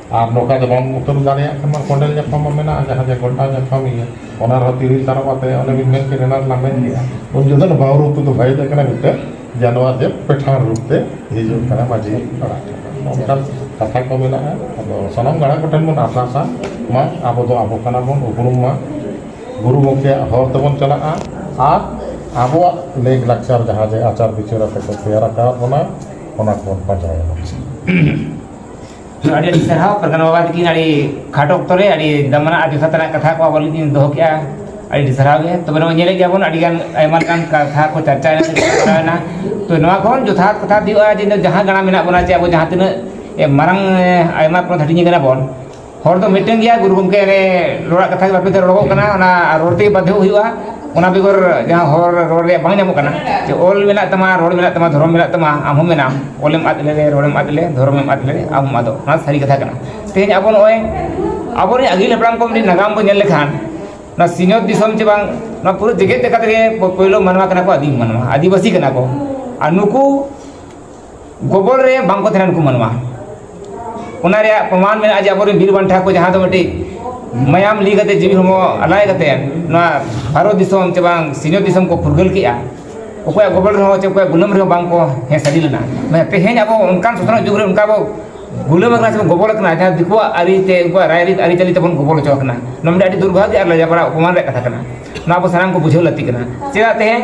ᱟᱨ ᱱᱚᱝᱠᱟ ᱫᱚ ᱵᱟᱢ ᱩᱛᱟᱹᱨ ᱫᱟᱲᱮᱭᱟᱜ ᱠᱷᱟᱱ ᱢᱟ ᱠᱚᱸᱰᱮᱞ ᱧᱟᱯᱟᱢ ᱢᱟ ᱢᱮᱱᱟᱜᱼᱟ ᱡᱟᱦᱟᱸ ᱡᱮ ᱜᱷᱚᱱᱴᱟ ᱧᱟᱯᱟᱢ ᱤᱭᱟᱹ ᱚᱱᱟ ᱨᱮᱦᱚᱸ ᱛᱤᱨᱤᱞ ᱛᱟᱨᱚᱵ ᱟᱛᱮᱫ ᱚᱱᱮ ᱵᱤᱱ ᱢᱮᱱ ᱠᱮᱫ ᱮᱱᱟᱱ ᱨᱮᱞᱟᱝ ᱢᱮᱱ ᱠᱮᱫᱼᱟ ᱩᱱ ᱡᱚᱠᱷᱚᱱ ᱫᱚ ᱵᱟᱹᱦᱩ ᱨᱩᱯ ᱛᱮᱫᱚ ᱵᱟᱭ ᱦᱮᱡ ᱟᱠᱟᱱᱟ ᱢᱤᱫᱴᱮᱱ ᱡᱟᱱᱣᱟᱨ ᱡᱮ ᱯᱮᱴᱷᱟᱲ ᱨᱩᱯ ᱛᱮ ᱦᱤᱡᱩᱜ ᱠᱟᱱᱟᱭ ᱢᱟᱺᱡᱷᱤ ᱯᱟᱨᱟ ᱚᱱᱠᱟᱱ ᱠᱟᱛᱷᱟ ᱠᱚ ᱢᱮᱱᱟᱜᱼᱟ ᱟᱫᱚ ᱥᱟᱱᱟᱢ ᱜᱟᱬᱟ ᱠᱚᱴᱷᱮᱱ ᱵᱚᱱ ᱟᱨᱫᱟᱥᱟ ᱢᱟ ᱟᱵᱚ ᱫᱚ ᱟᱵᱚ ᱠᱟᱱᱟ ᱵᱚᱱ ᱩᱯᱨᱩᱢ ᱢᱟ ᱜᱩᱨᱩ ᱜᱚᱢᱠᱮᱭᱟᱜ ᱦᱚᱨ ᱛᱮᱵᱚᱱ ᱪᱟᱞᱟᱜᱼᱟ ᱟᱨ ᱟᱵᱚᱣᱟᱜ ᱞᱮᱠ ᱞᱟᱠᱪᱟᱨ ᱡᱟᱦᱟᱸ ᱡᱮ ᱟᱪᱟᱨ ᱵᱤᱪᱟᱹᱨ ᱟᱛᱮᱫ ᱠᱚ ᱛᱮᱭᱟᱨ ᱟᱠᱟᱫ ᱵᱚᱱᱟ ᱚᱱᱟ ᱠᱚᱵᱚᱱ ᱯᱟᱸᱡᱟᱭᱟ ᱟᱹᱰᱤ ᱟᱹᱰᱤ ᱥᱟᱨᱦᱟᱣ ᱯᱨᱚᱫᱷᱟᱱ ᱵᱟᱵᱟ ᱛᱟᱹᱠᱤᱱ ᱟᱹᱰᱤ ᱠᱷᱟᱴᱚ ᱚᱠᱛᱚ ᱨᱮ ᱟᱹᱰᱤ ᱫᱟᱢᱟᱱᱟᱜ ᱟᱹᱰᱤ ᱡᱚᱛᱷᱟᱛ ᱨᱮᱱᱟᱜ ᱠᱟᱛᱷᱟ ᱠᱚ ᱟᱵᱚ ᱞᱟᱹᱜᱤᱫ ᱠᱤᱱ ᱫᱚᱦᱚ ᱠᱮᱜᱼᱟ ᱟᱹᱰᱤ ᱟᱹᱰᱤ ᱥᱟᱨᱦᱟᱣ ᱜᱮ ᱛᱚᱵᱮ ᱱᱚᱜᱼᱚᱭ ᱧᱮᱞᱮᱫ ᱜᱮᱭᱟᱵᱚᱱ ᱟᱹᱰᱤ ᱜᱟᱱ ᱟᱭᱢᱟ ᱞᱮᱠᱟᱱ ᱠᱟᱛᱷᱟ ᱠᱚ ᱪᱟᱨᱪᱟ ᱮᱱᱟ ᱛᱚ ᱱᱚᱣᱟ ᱠᱷᱚᱱ ᱡᱚᱛᱷᱟᱛ ᱠᱟᱛᱷᱟ ᱫᱚ ᱦᱩᱭᱩᱜᱼᱟ ᱡᱮ ᱡᱟᱦᱟᱸ ᱜᱟᱬᱟ ᱢᱮᱱᱟᱜ ᱵᱚᱱᱟ ᱪᱮ ᱟᱵᱚ ᱡᱟᱦᱟᱸ ᱛᱤᱱᱟᱹᱜ ᱢᱟᱨᱟᱝ ᱟᱭᱢᱟ ᱯᱚᱫᱽ ᱦᱟᱹᱴᱤᱧ ᱠᱟᱱᱟ ᱵᱚᱱ ᱦᱚᱲ ᱫᱚ ᱢᱤᱫᱴᱮᱱ ᱜᱮᱭᱟ ᱜᱩᱨᱩ ᱜᱚᱢᱠᱮ ᱨᱮ ᱨᱚᱲᱟᱜ ᱠᱟᱛᱷᱟ ᱜᱮ ᱵᱟᱠᱚ ᱨᱚᱲᱚᱜᱚᱜ ᱠᱟᱱᱟ ᱚᱱᱟ ᱨᱚᱲ ᱛᱮᱜᱮ ᱵᱟᱫᱽᱫᱷᱚ ᱦᱩᱭᱩᱜᱼᱟ ᱚᱱᱟ ᱵᱮᱜᱚᱨ ᱡᱟᱦᱟᱸ ᱦᱚᱲ ᱨᱚᱲ ᱨᱮᱭᱟᱜ ᱵᱟᱝ ᱧᱟᱢᱚᱜ ᱠᱟᱱᱟ ᱡᱮ ᱚᱞ ᱢᱮᱱᱟᱜ ᱛᱟᱢᱟ ᱨᱚᱲ ᱢᱮᱱᱟᱜ ᱛᱟᱢᱟ ᱫᱷᱚᱨᱚᱢ ᱢᱮᱱᱟᱜ ᱛᱟᱢᱟ ᱟᱢ ᱦᱚᱸ ᱢᱮᱱᱟᱢ ᱚᱞᱮᱢ ᱟᱫ ᱞᱮᱨᱮ ᱨᱚᱲᱮᱢ ᱟᱫ ᱞᱮᱨᱮ ᱫᱷᱚᱨᱚᱢᱮᱢ ᱟᱫ ᱞᱮᱨᱮ ᱟᱢ ᱦᱚᱸᱢ ᱟᱫᱚᱜ ᱱᱚᱣᱟ ᱥᱟᱹᱨᱤ ᱠᱟᱛᱷᱟ ᱠᱟᱱᱟ ᱛᱮᱦᱮᱧ ᱟᱵᱚ ᱱᱚᱜᱼᱚᱸᱭ ᱟᱵᱚ ᱨᱮᱱ ᱟᱹᱜᱤᱞ ᱦᱟᱯᱲᱟᱢ ᱠᱚ ᱢᱤᱫᱴᱤᱡ ᱱᱟᱜᱟᱢ ᱵᱚᱱ ᱧᱮᱞ ᱞᱮᱠᱷᱟᱱ ᱱᱚᱣᱟ ᱥᱤᱧᱚᱛ ᱫᱤᱥᱚᱢ ᱪᱮ ᱵᱟᱝ ᱱᱚᱣᱟ ᱯᱩᱨᱟᱹ ᱡᱮᱜᱮᱛ ᱞᱮᱠᱟ ᱛᱮᱜᱮ ᱯᱳᱭᱞᱳ ᱢᱟᱱᱣᱟ ᱠᱟᱱᱟ ᱠᱚ ᱟᱹᱫᱤᱢ ᱢᱟᱱᱣᱟ ᱟᱹᱫᱤᱵᱟᱹᱥᱤ ᱠᱟᱱᱟ ᱠᱚ ᱟᱨ ᱱᱩᱠᱩ ᱜᱚᱵᱚᱞ ᱨᱮ ᱵᱟᱝ ᱠᱚ ᱛᱟᱦᱮᱱ ᱠᱚ ᱢᱟᱱᱣᱟ ᱚᱱᱟ ᱨᱮᱭᱟᱜ ᱯᱨᱚᱢᱟᱱ ᱢᱮᱱᱟᱜᱼᱟ ᱡᱮ ᱟᱵᱚᱨᱮᱱ ᱵᱤᱨ ᱵᱟᱱᱴᱟ ᱠᱚ ᱡᱟᱦᱟᱸ ᱫᱚ ᱢᱤᱫᱴᱤᱡ ᱢᱟᱭᱟᱢ ᱞᱤᱸᱜᱤ ᱠᱟᱛᱮᱫ ᱡᱤᱣᱤ ᱦᱚᱲᱢᱚ ᱟᱞᱟᱭ ᱠᱟᱛᱮᱫ ᱱᱚᱣᱟ ᱵᱷᱟᱨᱚᱛ ᱫᱤᱥᱚᱢ ᱪᱮ ᱵᱟᱝ ᱥᱤᱧᱚᱛ ᱫᱤᱥᱚᱢ ᱠᱚ ᱯᱷᱩᱨᱜᱟᱹᱞ ᱠᱮᱜᱼᱟ ᱚᱠᱚᱭᱟᱜ ᱜᱚᱵᱚᱞ ᱨᱮᱦᱚᱸ ᱪᱮ ᱚᱠᱚᱭᱟᱜ ᱜᱩᱞᱟᱹᱢ ᱨᱮᱦᱚᱸ ᱵᱟᱝ ᱠᱚ ᱦᱮᱸ ᱥᱟᱹᱨᱤ ᱞᱮᱱᱟ ᱢᱟᱱᱮ ᱛᱮᱦᱮᱧ ᱟᱵᱚ ᱚᱱᱠᱟᱱ ᱥᱚᱥᱱᱚᱜ ᱡᱩᱜᱽ ᱨᱮ ᱚᱱᱠᱟ ᱵᱚ ᱜᱩᱞᱟᱹᱢ ᱟᱠᱟᱱᱟ ᱥᱮ ᱵᱚᱱ ᱜᱚᱵᱚᱞ ᱟᱠᱟᱱᱟ ᱡᱟᱦᱟᱸ ᱫᱤᱠᱩᱣᱟᱜ ᱟᱹᱨᱤᱛᱮ ᱩᱱᱠᱩᱣᱟᱜ ᱨᱟᱭᱨᱤᱛ ᱟᱹᱨᱤᱪᱟᱹᱞᱤ ᱛᱮᱵᱚᱱ ᱜᱚᱵᱚᱞ ᱦᱚᱪᱚ ᱟᱠᱟᱱᱟ ᱱᱚᱣᱟ ᱢᱤᱫᱴᱤᱡ ᱟᱹᱰᱤ ᱫᱩᱨᱵᱷᱟᱜᱽᱜᱚ ᱟᱨ ᱞᱟᱡᱟᱯᱟᱲᱟ ᱚᱯᱚᱢᱟᱱ ᱨᱮᱭᱟᱜ ᱠᱟᱛᱷᱟ ᱠᱟᱱᱟ ᱱᱚᱣᱟ ᱟᱵᱚ ᱥᱟᱱᱟᱢ ᱠᱚ ᱵᱩᱡᱷᱟᱹᱣ ᱞᱟᱹᱠᱛᱤ ᱠᱟᱱᱟ ᱪᱮᱫᱟᱜ ᱛᱮᱦᱮᱧ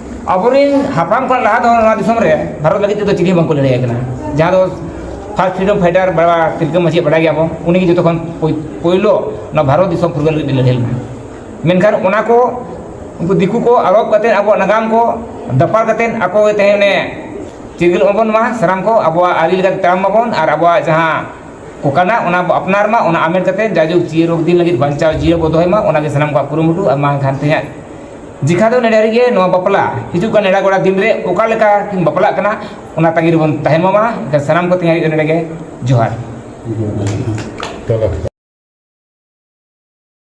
ᱟᱵᱚᱨᱮᱱ ᱦᱟᱯᱲᱟᱢ ᱠᱷᱚᱱ ᱞᱟᱦᱟ ᱫᱚ ᱱᱚᱣᱟ ᱫᱤᱥᱚᱢ ᱨᱮ ᱵᱷᱟᱨᱚᱛ ᱞᱟᱹᱜᱤᱫ ᱛᱮᱫᱚ ᱪᱤᱞᱤ ᱵᱟᱝᱠᱚ ᱞᱟᱹᱲᱦᱟᱹᱭ ᱠᱟᱱᱟ ᱡᱟᱦᱟᱸ ᱫᱚ ᱯᱷᱟᱥᱴ ᱯᱷᱨᱤᱰᱚᱢ ᱯᱷᱟᱭᱴᱟᱨ ᱵᱟᱵᱟ ᱛᱤᱞᱠᱟᱹ ᱢᱟᱹᱡᱷᱤ ᱵᱟᱰᱟᱭ ᱜᱮᱭᱟᱵᱚᱱ ᱩᱱᱤᱜᱮ ᱡᱚᱛᱚ ᱠᱷᱚᱱ ᱯᱳᱭᱞᱳ ᱱᱚᱣᱟ ᱵᱷᱟᱨᱚᱛ ᱫᱤᱥᱚᱢ ᱯᱷᱩᱨᱜᱟᱹᱞ ᱞᱟᱹᱜᱤᱫ ᱞᱟᱹᱲᱦᱟᱹᱭ ᱞᱮᱱᱟ ᱢᱮᱱᱠᱷᱟᱱ ᱚᱱᱟ ᱠᱚ ᱩᱱᱠᱩ ᱫᱤᱠᱩ ᱠᱚ ᱟᱞᱚᱯ ᱠᱟᱛᱮ ᱟᱵᱚᱣᱟᱜ ᱱᱟᱜᱟᱢ ᱠᱚ ᱫᱟᱯᱟᱞ ᱠᱟᱛᱮ ᱟᱠᱚ ᱜᱮ ᱛᱮᱦᱮᱧ ᱚᱱᱮ ᱪᱤᱨᱜᱟᱹᱞ ᱢᱟᱵᱚᱱ ᱢᱟ ᱥᱟᱱᱟᱢ ᱠᱚ ᱟᱵᱚᱣᱟᱜ ᱟᱹᱨᱤ ᱞᱮᱠᱟᱛᱮ ᱛᱟᱲᱟᱢ ᱢᱟᱵᱚᱱ ᱟᱨ ᱟᱵᱚᱣᱟᱜ ᱡᱟᱦᱟᱸ ᱠᱚ ᱠᱟᱱᱟ ᱚᱱᱟ ᱵᱚ ᱟᱯᱱᱟᱨ ᱢᱟ ᱚᱱᱟ ᱟᱢᱮᱴ ᱠᱟᱛᱮ ᱡᱟᱭᱡᱩᱜᱽ ᱪᱤᱨᱚᱫᱤᱱ ᱞᱟᱹᱜᱤᱫ ᱵᱟᱧᱪᱟᱣ ᱡᱤᱭᱟᱹᱲ ᱵᱚ ᱫᱚᱦᱚᱭ ᱢᱟ ᱚᱱᱟᱜᱮ ᱥᱟᱱᱟᱢ ᱠᱚᱣᱟᱜ ᱠᱩᱨᱩᱢᱩᱴᱩ ᱟᱨ ᱵᱟᱝᱠᱷᱟᱱ ᱛᱮᱦᱮᱧᱟᱜ ᱡᱮᱠᱷᱟ ᱫᱚ ᱱᱮᱰᱟ ᱨᱮᱜᱮ ᱱᱚᱣᱟ ᱵᱟᱯᱞᱟ ᱦᱤᱡᱩᱜ ᱠᱟᱱ ᱱᱮᱰᱟ ᱜᱚᱲᱟ ᱫᱤᱱ ᱨᱮ ᱚᱠᱟ ᱞᱮᱠᱟ ᱠᱤᱱ ᱵᱟᱯᱞᱟᱜ ᱠᱟᱱᱟ ᱚᱱᱟ ᱛᱟᱺᱜᱤ ᱨᱮᱵᱚᱱ ᱛᱟᱦᱮᱱ ᱢᱟ ᱢᱟ ᱮᱱᱠᱷᱟᱱ ᱥᱟᱱᱟᱢ ᱠᱚ ᱛᱮᱦᱮᱧ ᱦᱟᱹᱨᱤᱡ ᱱᱚᱰᱮ ᱜᱮ ᱡᱚᱦᱟᱨ